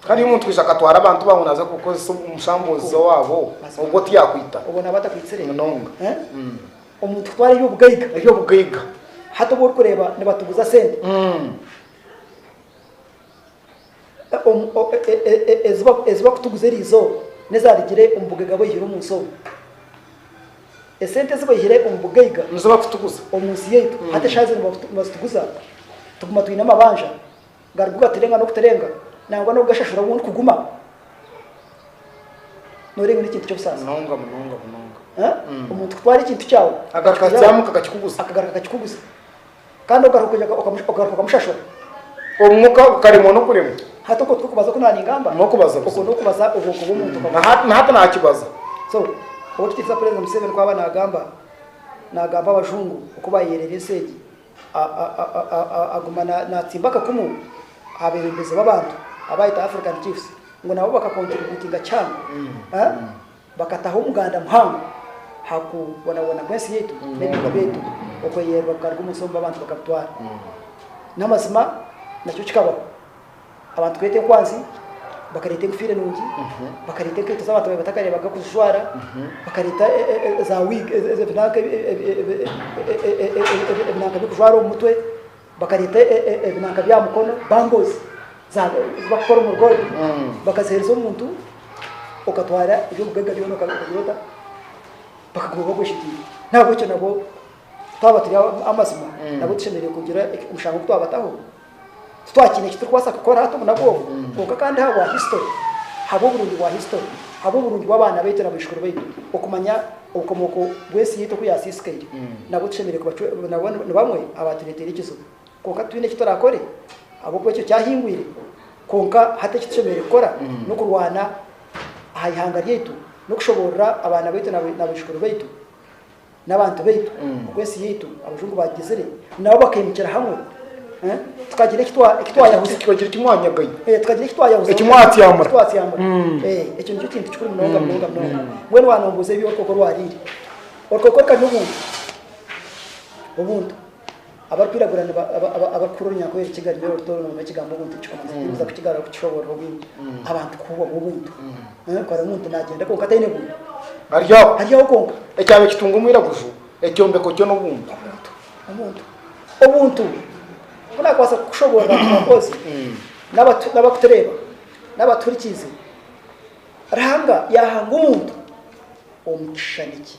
Kandi iyo omuntu aija akatwara abantu baawe naaza kukukoresa omushamboozi owaabo, obwo tiyaakwita? Obwo naaba atakwitsire? Munonga. Omuntu kutwara eby'obugaiga. Eby'obugaiga. Hati obu orikureeba nibatuguza sente ezi barikutuguza eriizooba, n'ezaarugire omu bugaiga bu oihire omu nsi omu. Esente ezi baihire omu bugaiga. Nizo barikutuguza. Omu nsi yaitu. Hati eshaaha zinu nibazituguza, tuguma twine amabanja. Ngari gu baturenga n'okuturenga nangwa n'okugashashura obu ndikuguma? Noorenga ori ekintu ky'obusaasi. Munonga, munonga, munonga. Eh? Omuntu kutwara ekintu kyawe. Agaruka akakitwara, akyamuka akakikuguza. Akagaruka akakikuguza. Kandi ogaruka kugira ngu okamu- ogaruka okamushashura. Obu muka okaremwa n'okuremwa. Hati okwo tikwo kubaza oku naaningamba? N'okubaza buza. Okwo n'okubaza obwonko bw'omuntu. Na hati- na hati naakibaza. So, Ow'ekitiinisa Purezidenti Museveni ku aba naagamba, naagamba Abajungu oku baayeerera ensi egi. Aguma naatsimba akakumu aha beebembezi b'abantu abaayeta African Chiefs ngu nabo bakakontiributinga kihango, bakataho omuganda muhango aha kubonabona kw'ensi yaitu n'ebika byaitu okweyererwa kukaruga omu nsi omu b'abantu bakabitwara. N'amazima nakyo kikabaho. Abantu kureeta enkwanzi, bakareeta enkofiira enungi, bakareeta enkaito ezi abantu batakareebaga kuzijwara, bakareeta za wig, ebinanka by'okujwara omu mutwe, bakareeta ebinanka by'aha mukono, bangles, ezi barikukora omu gold, bakaziheereza omuntu, okatwara eby'obugagga byona okagira ota? Bakaguma bakweshigiire. N'ahabw'ekyo nabo twaba turi ab'amazima, nabo tushemereire kugira omushango ogu twabataho. Titwakiine eki turikubaasa kukora hati omu naku obu, kwonka kandi ahabwa hisitori, ahabw'oburungi bwa hisitori, ahabw'oburungi bw'abaana baitu na baijukuru baitu, okumanya obukomooko bw'ensi yaitu oku yaasiisikaire, nabwo tushemereire kubacwera. Nabo ni bamwe abaatureeteire ekizibu, kwonka titwine eki turakore ahabw'okuba ekyo kyahingwire. Kwonka hati eki tushemereire kukora n'okurwana aha ihanga ryaitu, n'okushoboorora abaana baitu na baijukuru baitu. n'abantu baitu oku ensi yaitu abajungu baagizire nabo bakaimukira hamwe tukagira eki twayahuza tukagira eki mwanyagai tukagira eki twayahuza eki mwatyamura twatyamura ekyo nikyo kintu kikuru munonga munonga munonga mbwenu wanombuuza eby'orukooko orwariire orukooko rukari n'obuntu obuntu Abarikwiragura abarikuhurira orunyankore Rukiga rw'eiro rito orurimi rw'ekigambo Ubuntu nikikomanisa ati, Nibuza kukigarura kukishoboorora obwingi abantu kuhubwa obwo buntu. Kare omuntu naagyenda kwonka ataine buntu. Ari aho. Ari aho kwonka. Ekyaba ekitunga omwiraguju, ekyombeko kyo n'obuntu. Obuntu. Obuntu. Obuntu obu naakubaasa kukushoboorora ngu ahakubazi n'abakutureeba n'abatuhurikiize, Ruhanga yaahanga omuntu omu kishishani kye.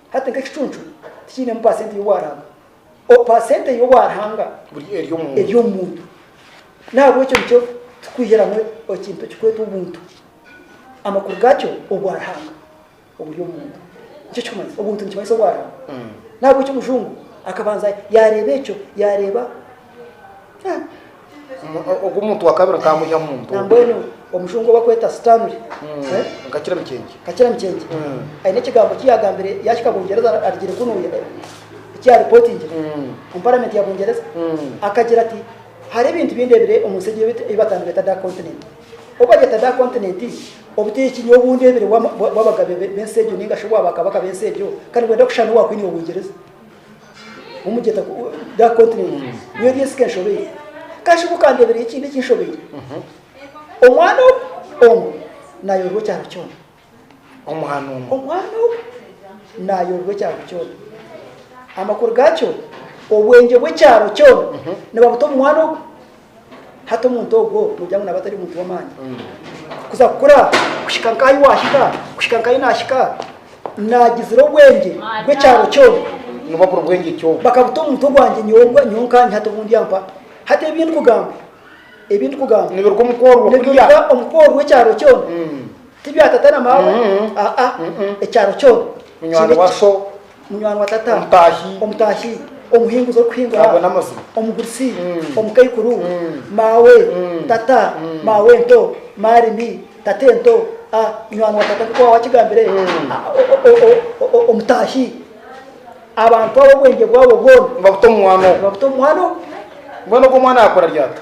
Hati nk'ekicuncu tikiinemu paasenti y'obwaranga, o, paasente y'obwaranga Buri eri omu muntu. eri omu muntu. N'ahabw'ekyo nikyo turikwihiramu ekintu ekirikwetwa obuntu. Amakuru gaakyo, obwaranga oburi omu muntu. Nikyo kirikumanyisa. Obuntu nikimanyisa obwaranga. N'ahabw'ekyo Omujungu akabanza yaareeba ekyo, yaareeba Ogu omuntu wa kabiri nkaba mwiha mu mbuga. Na mbwenu omushungu obakweta Stanley. Mm, eh, nkakira mikyengi. Kakira mikyengi. Mm. Aine ekigambo ki yagambire yahika Bungereza ar- arigire kunuya eh, eki yaripotingire Mm. omu paramenti ya Bungereza. Mm. Akagira ati hariho ebintu bindebire omu nsi egi ebi ebi batandi beta dark continent. Obu baryeta dark continent, obuteeki nyowe obundebire bw'ama- bwa- bw'abagabe be- b'ensi egyo ninga shi obwa bakabaka b'ensi egyo, kandi bwenda kushushana n'obwa Kwini wa Bungereza. Omugyeta ku that continent. Nyowe ebyo nsika enshobeire. Kashi ku kandebereyo ekindi ekinshobeire. Omwana ogu omu nayorwa ekyaro kyona. Omwana omu. Omwana ogu nayorwa ekyaro kyona. Amakuru gakyo obwengye bw'ekyaro kyona nibabuta omu mwana ogu. Hati omuntu ogwo noogira ngu naaba atari muntu w'amaani? Kuza kukura kuhika nk'ahi waahika, kuhika nk'ahi naahika, naagizira obwengye bw'ekyaro kyona. Ngu babura obwengye ki obwo? Bakabuta omuntu ogwangye nyowe nyowe nkanye, hati obundi yampa. Hati ebi ndikugamba, ebi ndikugamba. Nibiruga omu kworwa kuriya. Nibiruga omu kworwa ekyaro kyona. Ti bya tata na maama, aa, ekyaro kyona. Munywani wa so. Munywani wa tata. Omutaahi. Omutaahi. Omuhinguzi orikuhingura. Ago n'amazima. Omugurusi. Omukaikuru. Maawe. Tata. Maawe ento. Maarimi. Tata ento. A. Munywani wa tata nk'oku waaba wakigambire. A. Omutaahi. Abantu abo obwengye bwabo bwona. Nibabuta omu mwana ogu. Nibabuta omu mwana ogu. Mbwenu ogwo mwana yaakora ryata?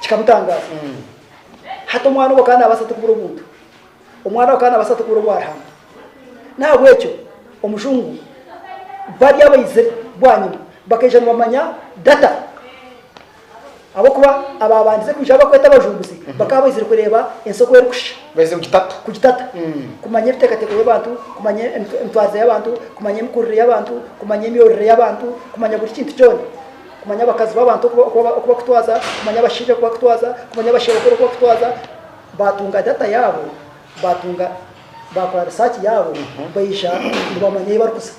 kikamutangaza hati omwana obo kandi nabasa tukubura omuntu omwana obo kandi nabasa tukubura obwarihanga nahabwekyo omujungu bari abaizire bwanyima bakaija nibamanya data abokuba ababandize kwija abakweta abajunguzi bakaba baizire kureba ensi oku erikusha Baize kugitata. Kugitata. Kumanya ebiteekateeko by'abantu, kumanya emitwarize y'abantu, kumanya emikurire y'abantu, kumanya emyorire y'abantu, kumanya buri kintu kyona. Kumanya abakazi b'abantu oku bakutwaza, kumanya abashaija oku bakutwaza, kumanya abasherukuru oku bakutwaza. Baatunga data yaabo, baatunga, baakora risaaki yaabo, baija nibamanya ei barikuza.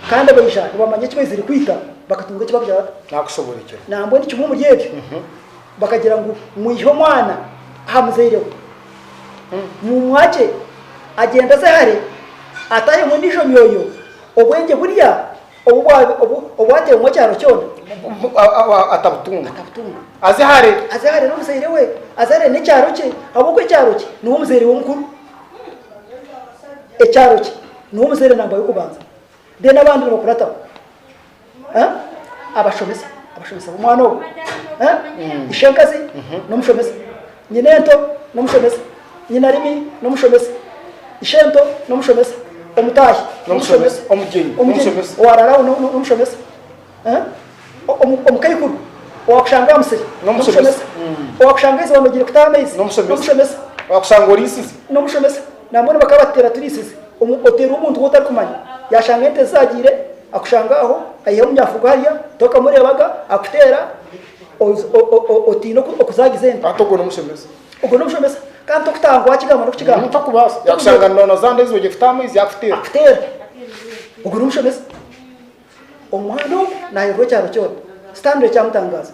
Kandi abaija nibamanya eki baizire kwita, bakatunga eki bagira Nakushoborekera. Nambwenu kimwe omuri ebyo bakagira ngu mwihe omwana aha muzaire we, mumwakye agyende aze hare atahemu endiijo myoyo, obwengye burya obu bwa obu obwatehemu ekyaro kyona, Atabutunga. atabutunga. Aze hare. Aze hare n'omuzaire we, aze hare n'ekyaro kye, ahabw'okuba ekyaro kye niwe muzaire we omukuru. Ekyaro kye. Niwe omuzaire nangwa y'okubanza then abandi nibakurataho eh abashomesa abashomesa b'omwana ogwo eh mm. ishenkazi mm -hmm. n'omushomesa nyina ento n'omushomesa nyina rimi n'omushomesa ishento n'omushomesa omutaahi n'omushomesa omugyenyi n'omushomesa owararaho n'omushomesa eh omukaikuru owakushanga aha musiri n'omushomesa mm. owakushanga iziba nogire kutaha amaizi n'omushomesa owakushanga orisize n'omushomesa Naamwe nibakaba batuteera turiisize omu oteeri omuntu ou otarikumanya. Yaashanga ente zaagiire, akushange aho, aihayo omunyafuugu hariya, tokamureebaga, akuteera, o, o, otiine oku, okuzaagiza ente. Ati ogwo n'omushomesa. Ogwo n'omushomesa. Kandi tokutaaha ngu waakigamba n'okukigamba. Tokubaasa. Yaakushanga noono za nte ezi ogiire kutaha amaizi, yaakuteera. Akuteera. Ogwo n'omushomesa. Omwana ogu naayoorora ekyaro kyona. Stanley kyamutangaaza.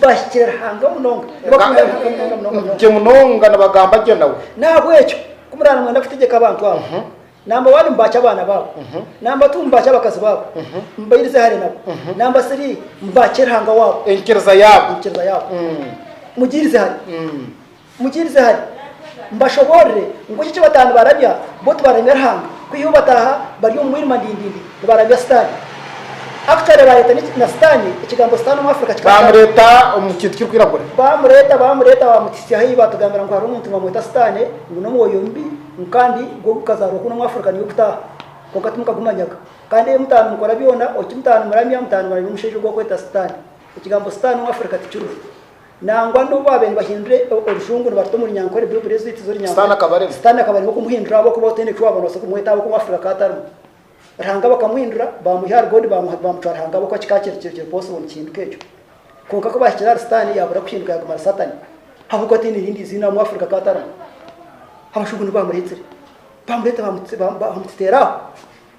Bahikire Ruhanga munonga, nibakumira Ruhanga munonga munonga munonga. Gye munonga nibagamba gye nawe. N'ahabw'ekyo ku muraaba nimwenda kutegyeka abantu abo, namba waaba nibaakya abaana baabo, namba tu nibaakya abakazi baabo, mubairize hare nabo, namba siri, mubaakye Ruhanga waabo. Enyikiriza yaabo. Enyikiriza yaabo. Mugiirize hare. Mukiirize hare, mbashoboorere nk'oku eki bataano barabya bo tibaramya Ruhanga, kwiha obu bataaha bari omu mwirima ndindindi nibarabya Sitaane. Actually bareeta na Sitaane, ekigambo Sitaane omu Africa kikaba kyarugire. Baamureeta omu kintu kirikwiragura. Baamureeta, baamureeta baamutisya ahi baatugambira ngu hariho omuntu nibamweta Sitaane, ngu n'omwoyo mubi, ngu kandi gwo gukazaarwa kunu omu Africa niyo gutaaha. Kwonka timukagumanyaga. Kandi ebi mutaano mukora byona, obu ki mutaano muramya, mutaano muramya omushaija ogu barikweta Sitaane. Ekigambo Sitaane omu Africa tikiriho. Nangwa n'obu baabaire nibahindura orujungu nibaruta omuri Nyankore Bibuli ezo itazo Runyankore, Sitaane akaba arimo kumuhindura ahabw'okuba otaine eki waaba noobaasa kumweta ahabw'okuba Afrika akaba atarimu. Ruhanga bakamuhindura, baamwiha ahari God baamutwara hanga ahabw'okuba kikaba kiri kiri possible nikihinduka ekyo. Kwonka ku baahikire ahari Sitaane yaabura kuhinduka yaaguma ari Satani ahabw'okuba taine erindi iziina amu Afrika akaba atarimu. Abajungu nibo baamureetsire, baamureeta baamuteera aho.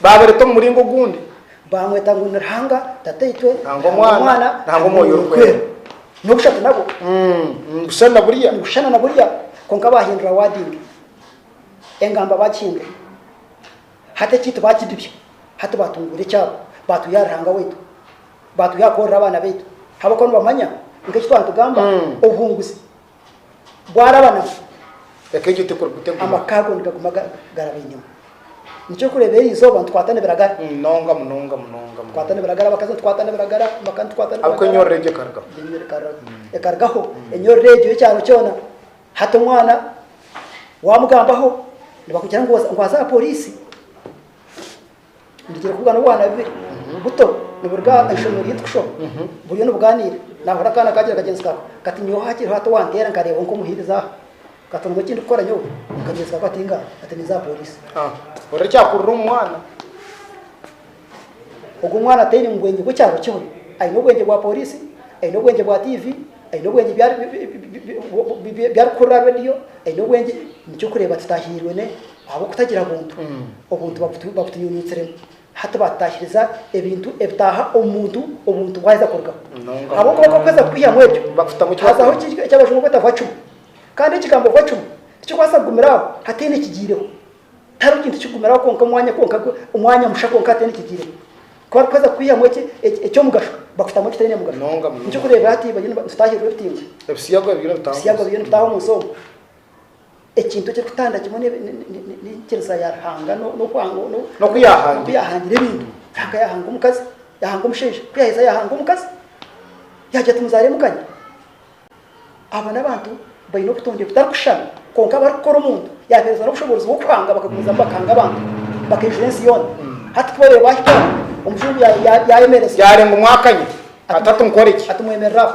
Baabareta omu muringo ogundi. Baamweta ngu ni Ruhanga Tataitwe, nangwa Omwana, nangwa Omwoyo Orikwera. N'obushatu nabwo. Ni kushushana na buriya. Ni kushushana na buriya, kwonka baahindura wording. Engamba baagihindura. Hati ekyaitu baakidibya. Hati baatunguura ekyabo. Baatwiha aha Ruhanga waitu. Baatwiha aha kworora abaana baitu. Ahabw'okuba nibamanya ngu eki twantugamba, obuhunguzi. bwaraba nafa, eka egyo tekurikutegurwa. Amaka ago nigaguma garaba enyima. Nikyo orikureeba eri izooba nitukwatana ebiragara. Munonga, munonga, munonga, munonga. Ebiragara abakazi nitukwatana ebiragara, amaka nitukwatana ebiragara. Ahabw'oku enyorre egyo ekarugaho. Ekarugaho enyorre egyo y'ekyaro kyona. Hati omwana waamugambaho nibakugira ngu aze aha pooriisi. Ndigire kuba n'obwana bubiri buto niburuga aha ishomero ryaitu kushoma. Buriyo nibugaaniira, naahurira akaana kaagira kagyenzi kaako kati, Nyowe hakiri hati owanteera nkareebwa nk'omuhiirizi aha. Nkatondwa eki ndikukora nyowe, kagyenzi kaako ati, Inga, hati ninza aha pooriisi. Hurira ekyakurira omu mwana. Ogwo mwana ataine mubwengye bw'ekyaro kimwe. Aine obwengye bwa pooriisi, aine obwengye bwa tiivi, aine obwengye bi arikuhurira aha reediyo, aine obwengye, nikyo kureeba tutahiirwe Ahabw'okutagira buntu, obuntu babutunyunyutsire hati baatutaahiriza ebintu ebitaaha omu muntu obuntu bwaheza kurugaho. Ahabw'okuba bakweza kukwihamu ebyo, hazaho eki Abajungu barikweta vacuma. Kandi ekigambo vacuma tikirikubaasa kugumira aho hataine ekigiireho. Tihariho kintu kikugumiraho kwonka omwanya kwonka omwanya musha kwonka hataine ekigiireho. Ku barikweza kukwihamu eky'omugasho, bakutamu ekitaine mugasho. Nikyo orikureebera hati bariyo nitutaahirirwa ebitimba. Ebisiyaga biriyo nibitaaha omu nsi omu. Ekintu ekirikutanda kimwe n'enyikiriza ya Ruhanga n'oku yaahangire ebintu. Ruhanga yaahanga omukazi, yaahanga omushaija. Ku yaaheza yaahanga omukazi, yaagira ati, Muzaaremu kanya. Abo n'abantu baine obutonde butarikushushana. Kwonka abarikukora omuntu, yaabaheereza n'obushoboorozi bw'okuhanga, bakagumizamu bakahanga abantu, bakaijura ensi yoona. Hati ku babaire baahikaho, omujungu yaayemereza. Yaarenga omwe akanya ati, Hati nkore ki? Ati, Mwemerere aho.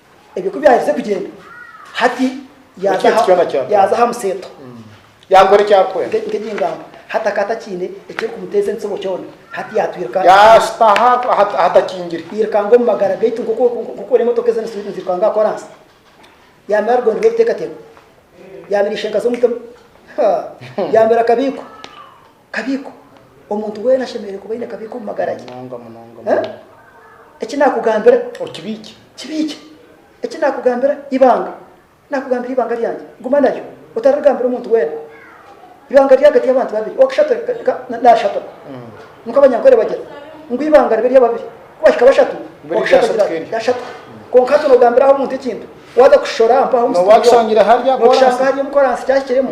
Ebyo ku byaherize kugyenda, hati yaaza aha museeto nk'egingambo. Hati akaba atakiine ekirikumuteeza entsibo kyona. Hati yaatwirika yairukanga omu magara gaitu nk'oku orikureeba emotoka ezo nizirukanga aha koraasi. Yaamera rugondera oruteekateeko. Yaamera ishenkaza omutima. Yaamera kabiiko. Kabiiko, Omuntu weena ashemereire kuba aine kabiiko omu magara ge. Munonga, munonga, munonga. Eki naakugambira. Okibiikye. Kibiikye. Eki naakugambira, ibanga. Naakugambira ibanga ryangye. Guma naryo. Otararigambira omuntu weena. Ibanga riri ahagati y'abantu babiri, ow'akashatu naashaturwa. Nikwo abanyankore bagira ngu ibanga ribe ry'ababiri. Ku bahika bashatu, ow'akashatu agira ati, Ryashaturwa. Kwonka hati noogambira aha omuntu ekintu, waaza kukishora mpaho omu situdiyo, nookishanga hariya omu koraasi kyahikiremu.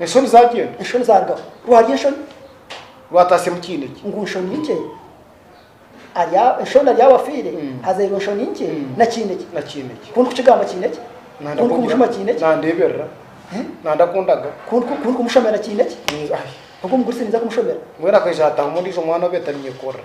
Enshoni zaagyenda. Enshoni zaarugaho. Rwarya enshoni. Rwataasya mu kiine kye. Ngu nshoni nkye. Arya enshoni arya awafiire. Mm. Hazairwe enshoni nkye Mm. na kiine kye. Na kiine kye. Ku ndikukigamba kiine kye. Nanda Ku ndikumushuma kugira. kiine kye. Nandeeberera. Eh? Nanda kundaga. Ku ndiku- ku ndikumushomera kiine kye. Ninza- Ai. Ogwo muguri sininza kumushomera. Mbwenu akaija hatahamu ondiijo mwana obeeta Ninyekorra.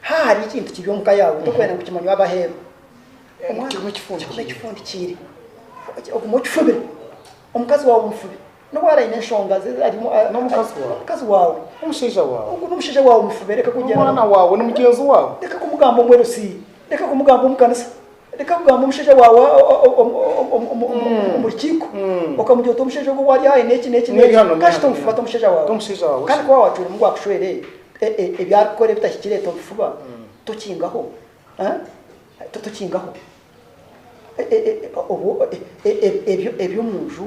Haha hariho ekintu kiri omu ka yaawe torikwenda ngu kimanywe ab'aheeru. Omwana kigume kifundikiire. Ogume okifubire. Omukazi waawe omufubi. N'obu araabe aine enshonga ze ari omu. N'omukazi waawe. Omukazi waawe. N'omushaija waawe. Ogwo n'omushaija waawe omufubi. Reka kugira. N'omwana waawe. Ni mugyenzi waawe. Reka kumugamba omu LC. Reka kumugamba omu kanisa. Reka kugamba omushaija waawe omu rukiiko okamugira oti omushaija ogwo waari aha neeki neeki neeki kashi tomufubata omushaija waawe kandi ku waaba waacwera omu akushwere ebi arikukora ebitahikire tobifuba tokingaho tokingaho eby'omunju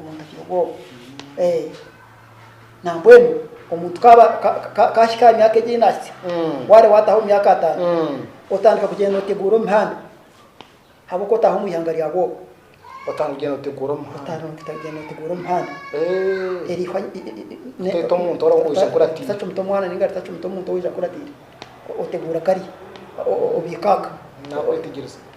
omuntu agira obwoba. Nambwenu omuntu kahika aha myaka egi ei naahitsya, mm. waare waataho omu myaka ataano, mm. otandika kugyenda nooteguura omu mihanda habwokuba otaaha omu ihanga rya bwoba otandika kugyenda nooteguura omu mihanda eh. erihwa teta omuntu orija kuratira tacumita omwana ninga ritacumita omuntu orija kuratira oteguura kari obiikaaka nakwetegyereza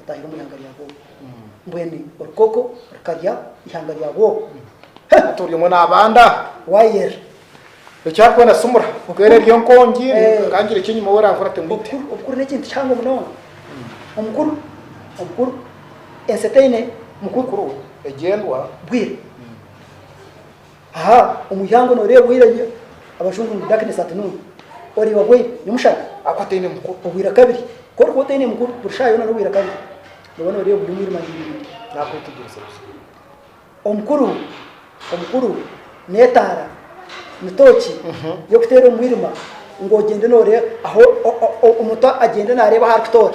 otahire omu ihanga rya Gogu, mbwenu orukoko rukarya ihanga rya Gogu. He! Hati ori omwe nabanda. Wire. Eki arikwenda simura. Obukuru. Eri enkongi, kangira eki enyima wera nkora temwite. Obukuru, obukuru n'ekintu kihango munonga. Omukuru, omukuru, ensi etaine mukuru. Mukuru we, egyendwa. Bwire. Aha omuryango noreeba owaire nye abajungu ngu darkness at noon oreeba bwaire nomushana ahakuba ataine mukuru obwaire akabiri korikuba otaine mukuru buri shaaha yoona nobwaire akabiri noba noreeba buri omwirima nibindi nakwetegyereza busa omukuru omukuru netaara ni tooki yokuteera omumwirima ngu ogyende noreeba ahu omuntu agyende nareeba ahu arikutoora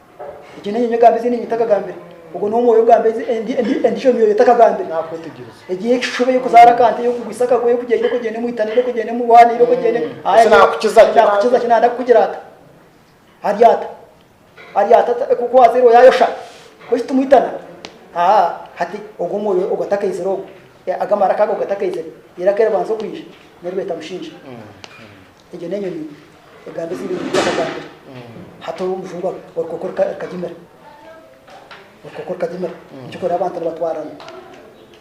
Egi n'enyonyi egamba ezi enyonyi etakagambire. Ogwo ni omwoyo ogamba ezi endi endi endijo myoyo etakagambire. Nakwetegyereza. Egi y'ekishushushu eba ey'okuzaara akante, ey'okugwisa akago, ey'okugira ira okogyenda omu itane, ira okogyenda omu bwana, ira okogyenda omu Aye Ese nakukiza ki? nakukiza ki? Nanda kukugira ata? Ari ata? Ari ata ata ku- kuwazairwe yayosha? Kwesi timwitana? Haa, hati ogwo omwoyo ogwo atakaizire ogwo, e, ago amaraka ago ago gatakaizire, ira ku eribanza okwija, niribeeta mushinja. Egyo n'enyonyi egamba ezi ebintu by'amagambiro, hati obu omujungu orukoko rukagimira, orukoko rukagimira, nikyo kureeba abantu nibatwarana,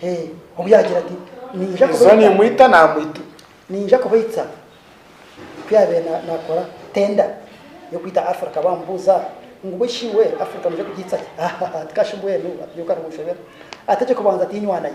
hee, obu yaagira ati, Niija Iza kubaita, nimwita namwita. niija kubaita, ku yaabaire na- naakora tender y'okwita Africa baamubuuza ngu bw'eishi iwe Africa noija kugiita ki? Hahaha, tikashi mbwenu, ati nyowe ka nimunshobera, ategye kubanza ati, Inywanayo.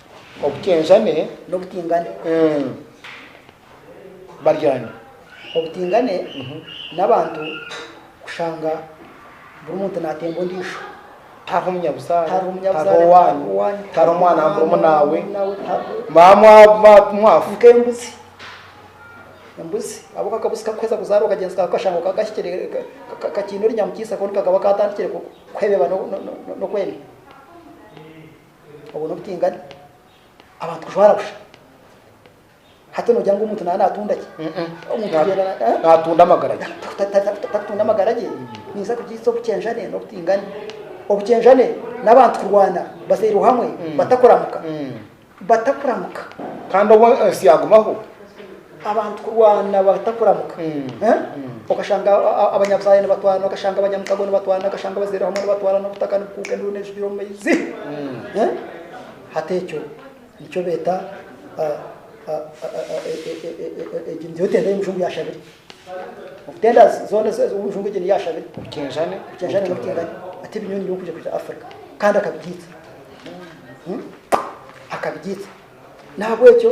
Obukyenjane n'obutingane baryane. Obutingane n'abantu kushanga buri muntu natemba ondiijo. Tihariho omunyabuzaare, tihariho owaanyu, tihariho omwana wa murumunaawe, mwaba mwafa. Nk'embuzi, embuzi ahabw'okuba akabuzi kakuheza kuzaara okagyenzi kaawe kukashanga okaba kahikire kakiine orinyamukiisa konka kakaba katandikire kuhebeba n'okwenda. Obwo n'obutingane. Abantu kujwara busha. Hati nogira ngu omuntu naba natunda ki? Omuntu agyenda na, eh? Natunda amagara ge. Ta- ta- ta- ta- Takutunda amagara ge. Ninza kugiitsa obukyenjane n'obutingane. Obukyenjane n'abantu kurwana bazairwe hamwe batakuramuka. Batakuramuka. Kandi obwo ensi yagumaho. Abantu kurwana batakuramuka. Okashanga abanyabuzaaya nibatwarana, okashanga abanyamutago nibatwarana, okashanga abazaire hamwe nibatwarana, obutaka nibukuuka, enduuru nejugira omu maizi. Hati ekyo nikyo beeta egi niyo tenda y'omujungu ya shabiri. Tenda zoona ez'omujungu egi niya shabiri. Obukinjani. Obukinjani n'obutingani. Ati ebi nyowe nibyo nkwija kwija Africa. Kandi akabigiitsa. Akabigiitsa. Nahabwekyo.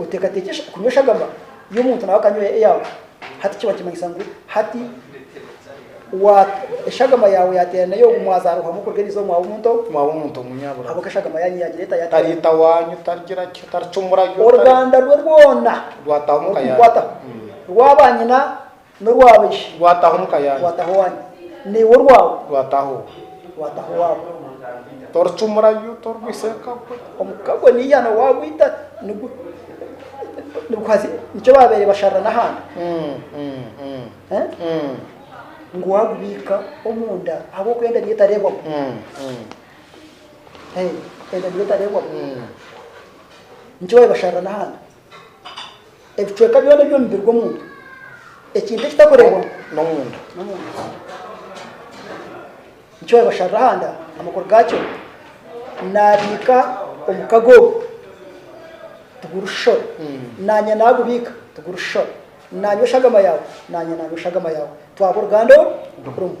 Oteekateekye kunywa eshagama y'omuntu nawe akanywa eyaawe, hati kiba nikimanyisa ngu hati eshagama yaawe yaateerana n'ey'ogwo mwazaarirwamu kuruga eriizooba omwana w'omuntu omunyaburaga, ahabw'oku eshagama yaanyu yaagira eta? Tari ita waanyu, tarigira ki, taricumura. Oruganda rwe rwona rwataho, rwaaba nyina N'orwa baishi. Gwataho omu ka yaanyu. Gwataho owanyu. Naiwe orwawe. Gwataho owe. Gwataho owaawe. Toricumurayo, torigwisa eka gwe. Omu ka gwe n'eihano waagwita, niguhaza nikyo baabaire basharira n'ahandi. Ngu waagubiika omunda ahabw'okuba enda niyo etareebwamu. Enda niyo etareebwamu. Nikyo baabaire basharira n'ahandi. Ebicweka byona eby'omu mubiri gw'omuntu, ekintu ekitakureebwamu n'omunda, nikyo baabasharira aha nda, amakuru gaakyo naabiika omu kaga ogu, tigurishishora, naanye naagubiika, tigurishishora, naanye oshagama yaawe, naanye naanye oshagama yaawe, twaba oruganda rumwe.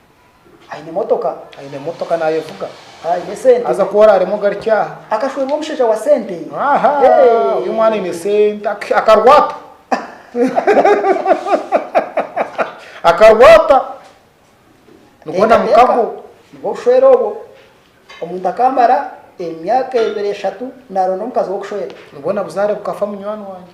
Aine motoka. Aine motoka nayevuga. Aine sente. Haza ku oraremu ogarukye aha. Akashwerwa omushaija wa sente. Aha! Oyo omwana aine sente. Akarwata. Akarwata. Nibwo na mukago. Nibwo bushwere obwo. Omuntu akamara emyaka ebiri eshatu naronda omukazi wokushwera. Nibwo na buzaare bukafa munywani wangye.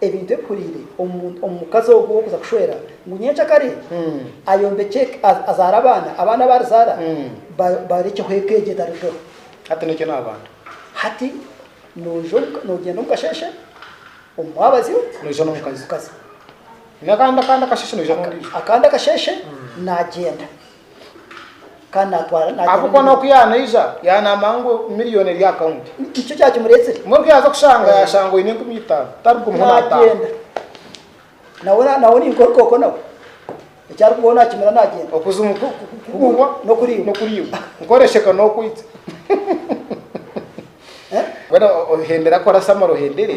ebintu ebihuriire omu mukazi ogwo kuza kushwera ngu nyenkya kare ayombekye eka, azaare abaana, abaana abu arizaara barekyeho eka egyo etarirugaho. Hati n'ekyo n'abantu. Hati noija, nogyenda omu kasheeshe, omu mwabazyo, noija n'omukazi, akandi akasheeshe noija n'ondiijo, akandi akasheeshe nagyenda. Kandi naatwara naatwara Ahabw'okuba n'oku n'emirimo. yaanaija, yaanamba ngu miliyooni eri aha kaunti. Ni- Nikyo kyakimureetsire. Mbwenu ku yaaza kushanga, yaashanga oine enkumi itaano. Tarigumiho naataaha. Naagyenda. Nawe na- nawe ni nkooko nawe. Eki arikubaho naakimira naagyenda. Okuzimu ku- ku- ku- kugurwa N'okuriibwa. n'okuriibwa. Nkworesheka n'okwitsa. Eh? Mbwenu o- ohendera kora samara ohendere.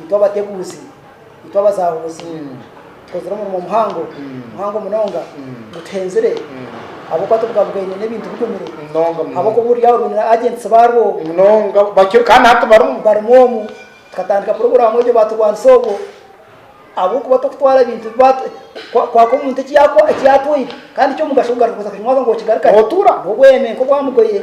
Itwe abateguuzi, itwe abazahuuzi, tukozire omurimo muhango, muhango munonga, gutuhenzire, ahabw'okuba tubugabugaine n'ebintu bigumire, Munonga, munonga. ahabw'okuba oburyaho rwine na agents baarwo Munonga, bakiri kandi hati barimu. barimu omu, tukatandika puroguraamu egyo baaturwanisa obwo, ahabw'okuba tokutwara bintu bi baatu kwa- kwaka omuntu eki yaakwa- eki yaatwaire, kandi ky'omugasho kugaruka kuza kukimuha ngu okigarukane. Otuura. N'obweme nk'obwa mugoye.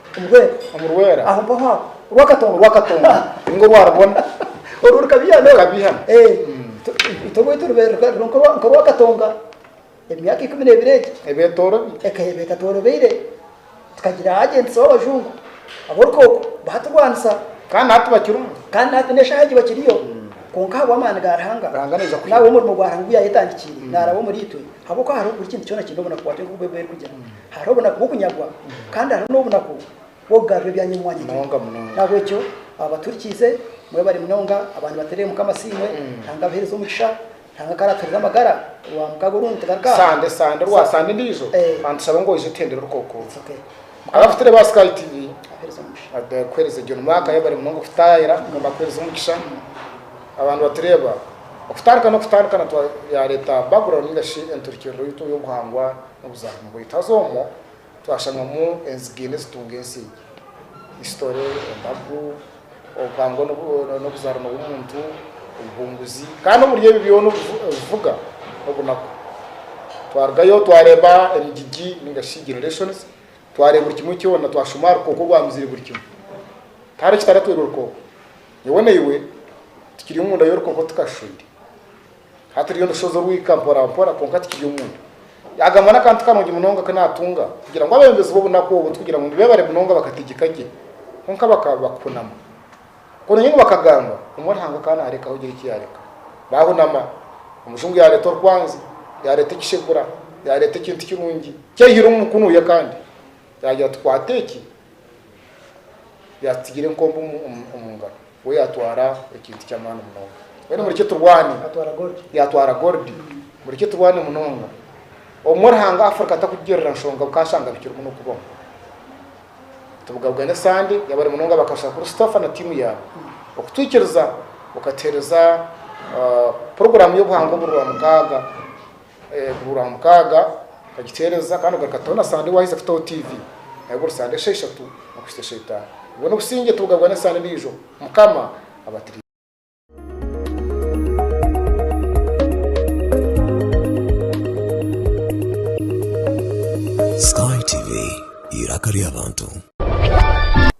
Ngwe omurwera aho mpaho aho. Orwakatonga orwakatonga ninga orwarubona. Orwo rukabiha n'oru. Rukabiha. Eeh itwe owaitu rubaire ruri nk'orwakatonga emyaka ikumi n'ebiri egi. Ebeetoorobi. Ekabaire etatworobeire tukagira agents b'abajungu ab'orukooko baturwanisa. Kandi na hati bakiriho. Kandi na hati n'eshaaha egi bakiriyo. Kwonka ahabw'amaani ga Ruhanga. Ruhanga naija kuhikiriza. N'ahabw'omurimo gwa Ruhanga ogu yaayetandikiire naaraba omuriitwe. Ahabw'okuba hariho buri kintu kyona kiine obunaku bwakyo nk'oku Baibuli erikugira. Hariho obunaku bw'okunyagwa kandi hariho n'obunaku bw'okugarura ebyanyemwanyekire. N'ahabw'ekyo abo baturikiize, mwebare munonga abaana bateerere Mukama Asiimwe. Ruhanga abaheereze omugisha. Ruhanga ku araatuheereze amagara, Rwamukaaga orundi nitugaruka aha. Sande, Sande, Rwa Sande endiijo, kandi tushabe ngu oije tuhendere orukookuuto. Mukama. Abafutire ba Sky TV. Abaheereze omugisha. Abakuheereze John Mark ayebare munonga okututaayira. Mukama akuheereze omugisha. Abantu batureeba, okutandika n'okutandika na twa yaareeta background nainga shi enturikiriro yaitu ey'obuhangwa. Obuzamu bwaitu haza omwo twashangamu enziga ina ezitunga ensi egi, Isitore, embagu, obuhangwa n'obuzarano bw'omuntu, obuhunguzi, kandi omuri ebi byona obuvuga n'obunaku. Twarugayo twareba emigigi ninga shi generations, twareba buri kimwe kyona, twashuma aha rukooko orwamizire buri kimwe. Tihariho ekitaratwire orukooko. Nyowe naiwe tukiri omunda y'orukooko tukashusha oire. Hati rero ndushohoza orwika mporampora kwonka tikiri omunda. Yaagamba n'akantu karungi munonga aku naatunga kugira ngu abebembezi b'obunaku obu tikugira ngu nibeebare munonga bakategeka gye, kwonka bakaba bakuhunama. Koona nyowe nibakagamba, omwe Ruhanga akaba naarekaho gye eki yaareka. Baahunama, omujungu yaareeta orukwanzi, yaareeta ekishegura, yaareeta ekintu kirungi, kyaihire omu mukono ye kandi yaagira ati, Kwata eki, yaatutsigire enkombe omu ngaro, we yaatwara ekintu ky'amaani munonga. Mbwenu murekye turwane. Yaatwara golidi. Murekye turwane munonga. Obumwe Ruhanga Afurika atakugirira nshonga bukashanga bikiri muno kubaho. Tubugabugane sande yabari munonga bakashaka kuri Stofa na tiimu yaabo okutwikiriza okatuhereza ah, poroguraamu y'obuhangwa oburwa mukaaga Buri wa mukaaga okagikyeereza kandi ogaruka kutaaho na Sande waaheza kutaaho tiivi. Nayo buri Sande esheeshatu okuhitsya esheetaano. Obwo n'obusingye tibugabwa n'Esande endiijo. Mukama abatirire. Sky TV, eiraka ry'abantu.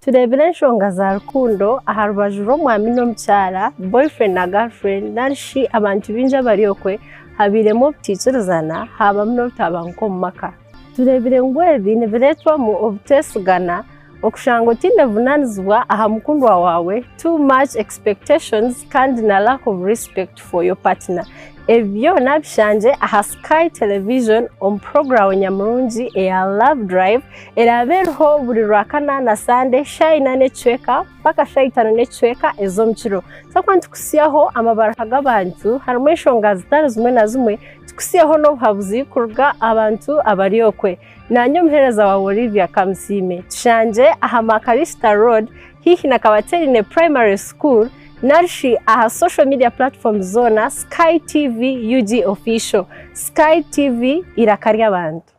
Tureebire enshonga za rukundo aha rubaju rw'omwami n'omukyara, boyfriend na girlfriend, nari shi abantu baingi abari okwe Habairemu obutaikirizana, haabamu n'obutabanguko omu maka. Tureebire ngu ebi nibireetwamu obuteesigana, okushanga otaine buvunaanizibwa aha mukundwa waawe, too much expectations, kandi na lack of respect for your partner. Ebi byona bishangye aha Sky Television omu puroguramu nyamurungi eya Love Drive eraabe eriho buri Rwakana na Sande, shaaha ina n'ekicweka. mpaka shaaha itaano n'ekicweka ez'omu kiro. Twakuba nitukutsyaho amabaruha g'abantu harimu enshonga zitari zimwe na zimwe, tukutsyeho n'obuhabuzi kuruga aha bantu abari okwe. Naanye omuheereza waawe Olivia Kamusiime, tushangye aha Makarista Road haihi na Kabateerine Primary School nari shi aha social media platforms zoona, Sky TV UG Official, Sky TV eiraka ry'abantu.